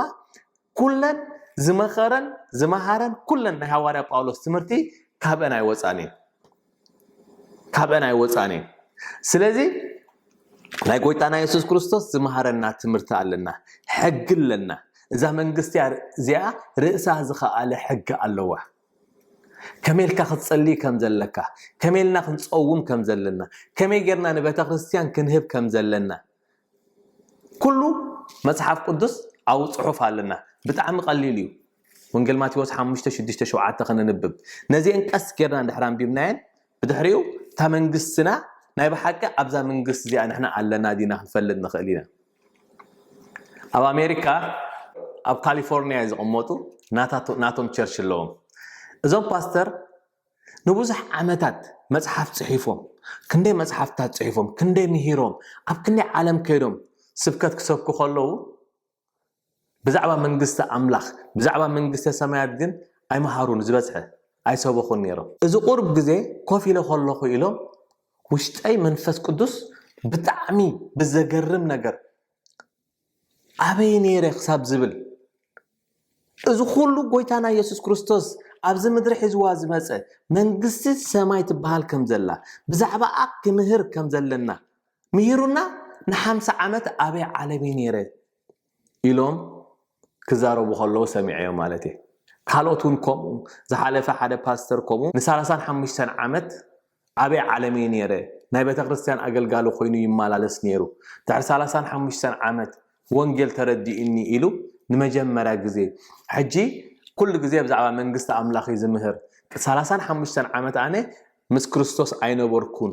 ኩለን ዝመኸረን ዝመሃረን ኩለን ናይ ሃዋርያ ጳውሎስ ትምህርቲ ካብአን ኣይወፃን እዩ ካብአን ኣይወፃን እዩ ስለዚ ናይ ጎይታና የሱስ ክርስቶስ ዝመሃረና ትምህርቲ ኣለና ሕጊ ኣለና እዛ መንግስቲ እዚኣ ርእሳ ዝኸኣለ ሕጊ ኣለዋ ከመይ ኢልካ ክትጸሊ ከም ዘለካ ከመይ ኢልና ክንጸውም ከም ዘለና ከመይ ጌርና ንቤተ ክርስትያን ክንህብ ከም ዘለና ኩሉ መጽሓፍ ቅዱስ ኣብ ጽሑፍ ኣለና ብጣዕሚ ቀሊል እዩ ወንጌል ማቴዎስ 5 6 7 ከነንብብ ነዚአን ቀስ ጌርና እንድሕር ኣንቢብናየን ብድሕሪኡ እታ መንግስትና ናይ ብሓቂ ኣብዛ መንግስቲ እዚኣ ንሕና ኣለና ዲና ክንፈልጥ ንኽእል ኢና ኣብ ኣሜሪካ ኣብ ካሊፎርኒያ ዝቕመጡ ናቶም ቸርች ኣለዎም እዞም ፓስተር ንብዙሕ ዓመታት መጽሓፍ ጽሒፎም ክንደይ መጽሓፍታት ጽሒፎም ክንደይ ምሂሮም ኣብ ክንደይ ዓለም ከይዶም ስብከት ክሰብኩ ከለዉ ብዛዕባ መንግስቲ ኣምላኽ ብዛዕባ መንግስተ ሰማያት ግን ኣይመሃሩን ዝበዝሐ ኣይሰበኹን ነይሮም እዚ ቁርብ ግዜ ኮፍ ኢለ ከለኹ ኢሎም ውሽጠይ መንፈስ ቅዱስ ብጣዕሚ ብዘገርም ነገር ኣበይ ነይረ ክሳብ ዝብል እዚ ኩሉ ጎይታና የሱስ ክርስቶስ ኣብዚ ምድሪ ሒዝዋ ዝመፀ መንግስቲ ሰማይ ትበሃል ከም ዘላ ብዛዕባኣ ክምህር ከም ዘለና ምሂሩና ንሓምሳ ዓመት ኣበይ ዓለም እዩ ነይረ ኢሎም ክዛረቡ ከለዉ ሰሚዐዮ ማለት እየ ካልኦት እውን ከምኡ ዝሓለፈ ሓደ ፓስተር ከምኡ ንሳላሳን ሓሙሽተን ዓመት ኣበይ ዓለም እየ ነይረ ናይ ቤተክርስትያን ኣገልጋሊ ኮይኑ ይመላለስ ነይሩ ድሕሪ ሰላሳን ሓሙሽተን ዓመት ወንጌል ተረዲኡኒ ኢሉ ንመጀመርያ ግዜ ሕጂ ኩሉ ግዜ ብዛዕባ መንግስቲ ኣምላኽ እዩ ዝምህር ሰላሳን ሓሙሽተን ዓመት ኣነ ምስ ክርስቶስ ኣይነበርኩን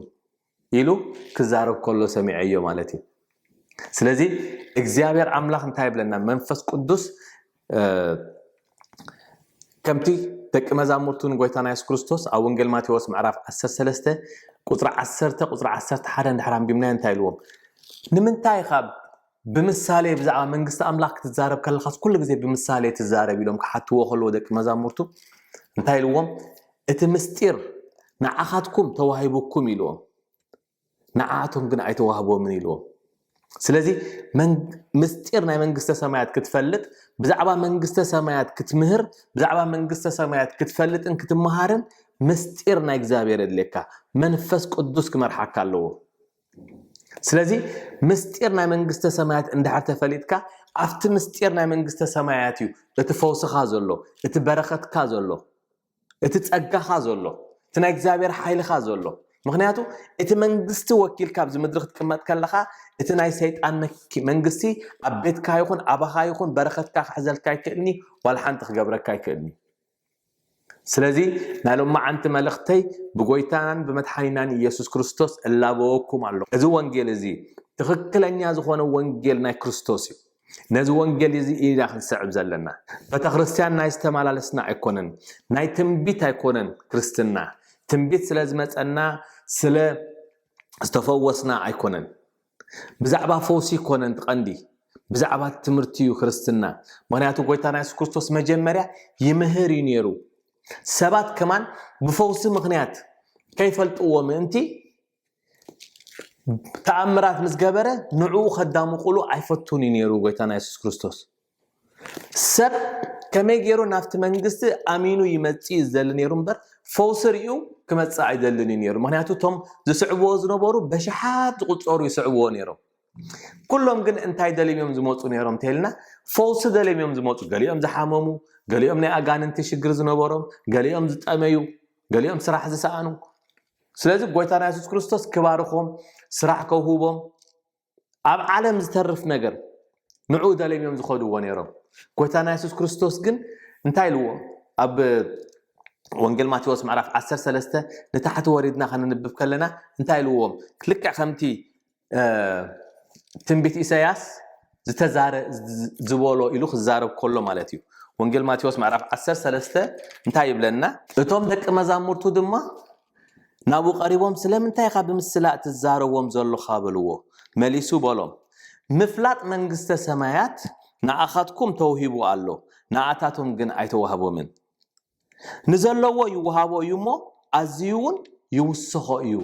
ኢሉ ክዛረብ ከሎ ሰሚዐዮ ማለት እዩ ስለዚ እግዚኣብሔር ኣምላኽ እንታይ ይብለና መንፈስ ቅዱስ ከምቲ ደቂ መዛሙርቱ ንጎይታና የሱስ ክርስቶስ ኣብ ወንጌል ማቴዎስ ምዕራፍ 13 ቁፅሪ 10 ቁፅሪ 11 እንድሕር ኣንቢብናዮ እንታይ ኢልዎም ንምንታይ ካብ ብምሳሌ ብዛዕባ መንግስቲ ኣምላኽ ክትዛረብ ከለኻስ ኩሉ ግዜ ብምሳሌ ትዛረብ ኢሎም ክሓትዎ ከለዎ ደቂ መዛሙርቱ እንታይ ኢልዎም እቲ ምስጢር ንዓኻትኩም ተዋሂቡኩም ኢልዎም ንዓኣቶም ግን ኣይተዋህቦምን ኢልዎም። ስለዚ ምስጢር ናይ መንግስተ ሰማያት ክትፈልጥ ብዛዕባ መንግስተ ሰማያት ክትምህር ብዛዕባ መንግስተ ሰማያት ክትፈልጥን ክትመሃርን ምስጢር ናይ እግዚኣብሔር የድልየካ መንፈስ ቅዱስ ክመርሓካ ኣለዎ ስለዚ ምስጢር ናይ መንግስተ ሰማያት እንድሕር ተፈሊጥካ ኣብቲ ምስጢር ናይ መንግስተ ሰማያት እዩ እቲ ፈውስኻ ዘሎ እቲ በረኸትካ ዘሎ እቲ ጸጋኻ ዘሎ እቲ ናይ እግዚኣብሔር ሓይልኻ ዘሎ ምክንያቱ እቲ መንግስቲ ወኪልካ ኣብዚ ምድሪ ክትቅመጥ ከለኻ እቲ ናይ ሰይጣን መንግስቲ ኣብ ቤትካ ይኹን ኣባኻ ይኹን በረኸትካ ክሕዘልካ ኣይክእልኒ ዋላ ሓንቲ ክገብረካ ኣይክእልኒ ስለዚ ናይ ሎማዓንቲ መልእኽተይ ብጎይታናን ብመድሓኒናን ኢየሱስ ክርስቶስ እላበወኩም ኣሎ እዚ ወንጌል እዚ ትኽክለኛ ዝኾነ ወንጌል ናይ ክርስቶስ እዩ ነዚ ወንጌል እዚ ኢና ክንስዕብ ዘለና። ቤተክርስትያን ናይ ዝተመላለስና ኣይኮነን፣ ናይ ትንቢት ኣይኮነን ክርስትና። ትንቢት ስለ ዝመጸና ስለ ዝተፈወስና ኣይኮነን። ብዛዕባ ፈውሲ ኣይኮነን እቲ ቀንዲ፣ ብዛዕባ እቲ ትምህርቲ እዩ ክርስትና። ምክንያቱ ጎይታና የሱስ ክርስቶስ መጀመርያ ይምህር እዩ ነይሩ። ሰባት ከማን ብፈውሲ ምክንያት ከይፈልጥዎ ምእንቲ ተኣምራት ምስ ገበረ ንዕኡ ከዳምቑሉ ኣይፈቱን እዩ ነይሩ ጎይታና የሱስ ክርስቶስ ሰብ ከመይ ገይሩ ናብቲ መንግስቲ ኣሚኑ ይመፅእ እዩ ዝደሊ ነይሩ እምበር ፈውሲ ርዩ ክመፅእ ኣይደልን እዩ ነይሩ ምክንያቱ እቶም ዝስዕብዎ ዝነበሩ በሽሓት ዝቁፀሩ ይስዕብዎ ነይሮም ኩሎም ግን እንታይ ደልዮም እዮም ዝመፁ ነይሮም እንተይልና ፈውሲ ደልዮም እዮም ዝመፁ ገሊኦም ዝሓመሙ ገሊኦም ናይ ኣጋንንቲ ሽግር ዝነበሮም ገሊኦም ዝጠመዩ ገሊኦም ስራሕ ዝሰኣኑ ስለዚ ጎይታና የሱስ ክርስቶስ ክባርኾም ስራሕ ከውህቦም ኣብ ዓለም ዝተርፍ ነገር ንዑ ደልዮም እዮም ዝኸድዎ ነይሮም ጎይታና የሱስ ክርስቶስ ግን እንታይ ኢልዎ ኣብ ወንጌል ማቴዎስ ምዕራፍ 13 ንታሕቲ ወሪድና ከነንብብ ከለና እንታይ ኢልዎም ልክዕ ከምቲ ትንቢት ኢሳያስ ዝተዛረ ዝበሎ ኢሉ ክዛረብ ከሎ ማለት እዩ ወንጌል ማቴዎስ ምዕራፍ 13 እንታይ ይብለና እቶም ደቂ መዛሙርቱ ድማ ናብኡ ቀሪቦም ስለምንታይ ኢኻ ብምስላ እትዛረዎም ዘሎኻ በልዎ መሊሱ በሎም ምፍላጥ መንግስተ ሰማያት ንኣኻትኩም ተውሂቡ ኣሎ ንኣታቶም ግን ኣይተዋህቦምን ንዘለዎ ይወሃቦ እዩ እሞ ኣዝዩውን ይውስኾ እዩ።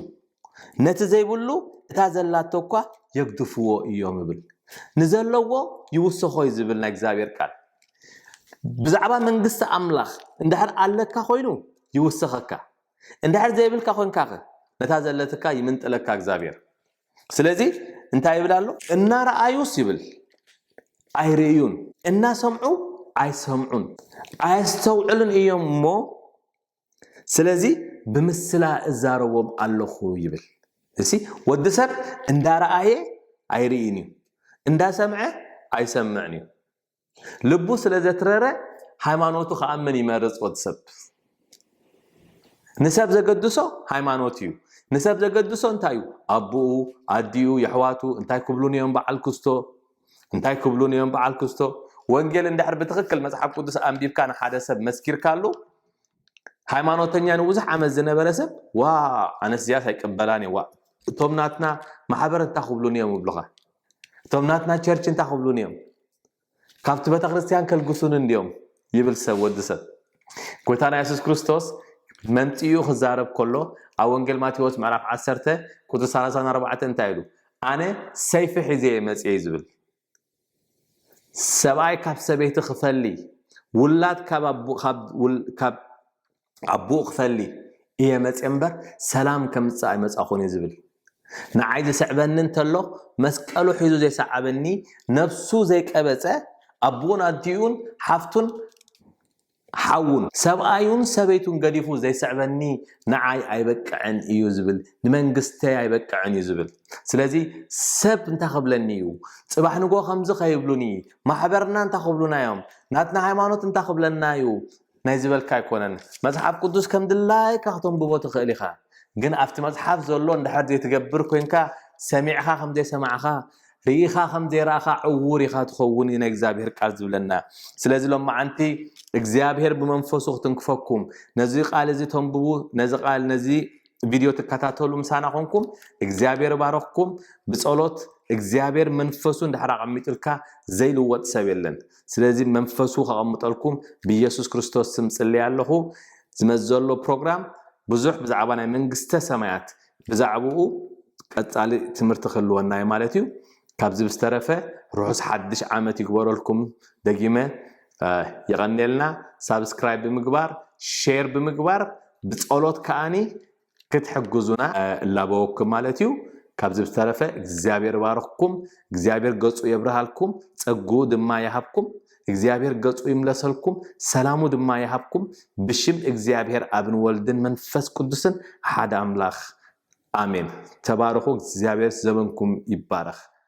ነቲ ዘይብሉ እታ ዘላቶ እኳ የግድፍዎ እዮም ይብል። ንዘለዎ ይውስኾ እዩ ዝብል ናይ እግዚኣብሔር ቃል ብዛዕባ መንግስቲ ኣምላኽ እንድሕር ኣለካ ኮይኑ ይውስኸካ፣ እንድሕር ዘይብልካ ኮንካኸ ነታ ዘለትካ ይምንጥለካ እግዚኣብሔር። ስለዚ እንታይ ይብል ኣሎ እናረኣዩስ ይብል ኣይርእዩን እናሰምዑ ኣይሰምዑን ኣየስተውዕሉን እዮም እሞ ስለዚ ብምስላ እዛረቦም ኣለኹ ይብል እሲ ወዲ ሰብ እንዳረኣየ ኣይርእን እዩ እንዳሰምዐ ኣይሰምዕን እዩ ልቡ ስለ ዘትረረ ሃይማኖቱ ክኣምን ይመርጽ ወዲ ሰብ ንሰብ ዘገድሶ ሃይማኖት እዩ ንሰብ ዘገድሶ እንታይ እዩ ኣቦኡ ኣዲኡ የሕዋቱ እንታይ ክብሉን እዮም በዓል ክስቶ እንታይ ክብሉን እዮም በዓል ክስቶ ወንጌል እንድሕር ብትኽክል መፅሓፍ ቅዱስ ኣንቢብካ ንሓደ ሰብ መስኪርካሉ ሃይማኖተኛ ንብዙሕ ዓመት ዝነበረ ሰብ ዋ ኣነስ እዚኣስ ኣይቅበላን እየ ዋ እቶም ናትና ማሕበር እንታይ ክብሉን እዮም ይብሉኻ እቶም ናትና ቸርች እንታይ ክብሉን እዮም ካብቲ ቤተክርስትያን ከልግሱን እንድዮም ይብል ሰብ ወዲ ሰብ ጎይታና የሱስ ክርስቶስ መምፅኡ ክዛረብ ከሎ ኣብ ወንጌል ማቴዎስ ምዕራፍ 1 ቁፅሪ 34 እንታይ ኢሉ ኣነ ሰይፊ ሒዘ እየ መፅየ ዝብል ሰብኣይ ካብ ሰበይቲ ክፈሊ ውላድ ካብ ኣቡኡ ክፈሊ እየ መፅየ እምበር ሰላም ከምፅእ ኣይመፃኹን እዩ ዝብል ንዓይ ዝስዕበኒ እንተሎ መስቀሉ ሒዙ ዘይሰዓበኒ ነብሱ ዘይቀበፀ ኣቡኡን ኣዲኡን ሓፍቱን ሓውን ሰብኣዩን ሰበይቱን ገዲፉ ዘይስዕበኒ ንዓይ ኣይበቅዕን እዩ ዝብል ንመንግስተይ ኣይበቅዕን እዩ ዝብል ስለዚ ሰብ እንታይ ክብለኒ እዩ ፅባሕ ንጎ ከምዚ ከይብሉኒ ማሕበርና እንታይ ክብሉና እዮም ናትና ሃይማኖት እንታይ ክብለና እዩ ናይ ዝበልካ ኣይኮነን መጽሓፍ ቅዱስ ከም ድላይካ ከተንብቦ ትኽእል ኢኻ ግን ኣብቲ መጽሓፍ ዘሎ እንድሕር ዘይትገብር ኮንካ ሰሚዕኻ ከም ዘይሰማዕኻ ርኢኻ ከም ዘይረኣኻ ዕውር ኢኻ ትኸውን እዩ ናይ እግዚኣብሄር ቃል ዝብለና ስለዚ ሎማዓንቲ እግዚኣብሄር ብመንፈሱ ክትንክፈኩም ነዚ ቃል እዚ ተንብቡ ነዚ ቃል ነዚ ቪድዮ ትከታተሉ ምሳና ኮንኩም እግዚኣብሔር ባረኽኩም ብጸሎት እግዚኣብሔር መንፈሱ እንድሕር ኣቐሚጡልካ ዘይልወጥ ሰብ የለን ስለዚ መንፈሱ ከቐምጠልኩም ብኢየሱስ ክርስቶስ ስም ጽልያ ኣለኹ። ዝመጽእ ዘሎ ፕሮግራም ብዙሕ ብዛዕባ ናይ መንግስተ ሰማያት ብዛዕባኡ ቀጻሊ ትምህርቲ ክህልወና እዩ ማለት እዩ። ካብዚ ብዝተረፈ ርሑስ ሓድሽ ዓመት ይግበረልኩም ደጊመ ይቐኔልና። ሳብስክራይብ ብምግባር ሼር ብምግባር ብጸሎት ከኣኒ ክትሕግዙና እላበወኩም ማለት እዩ። ካብዚ ብዝተረፈ እግዚኣብሔር ይባርኽኩም፣ እግዚኣብሔር ገጹ የብርሃልኩም፣ ጸግኡ ድማ ይሃብኩም፣ እግዚኣብሔር ገጹ ይምለሰልኩም፣ ሰላሙ ድማ ይሃብኩም፣ ብሽም እግዚኣብሔር ኣብን ወልድን መንፈስ ቅዱስን ሓደ ኣምላኽ ኣሜን። ተባረኹ፣ እግዚኣብሔር ዘበንኩም ይባረኽ።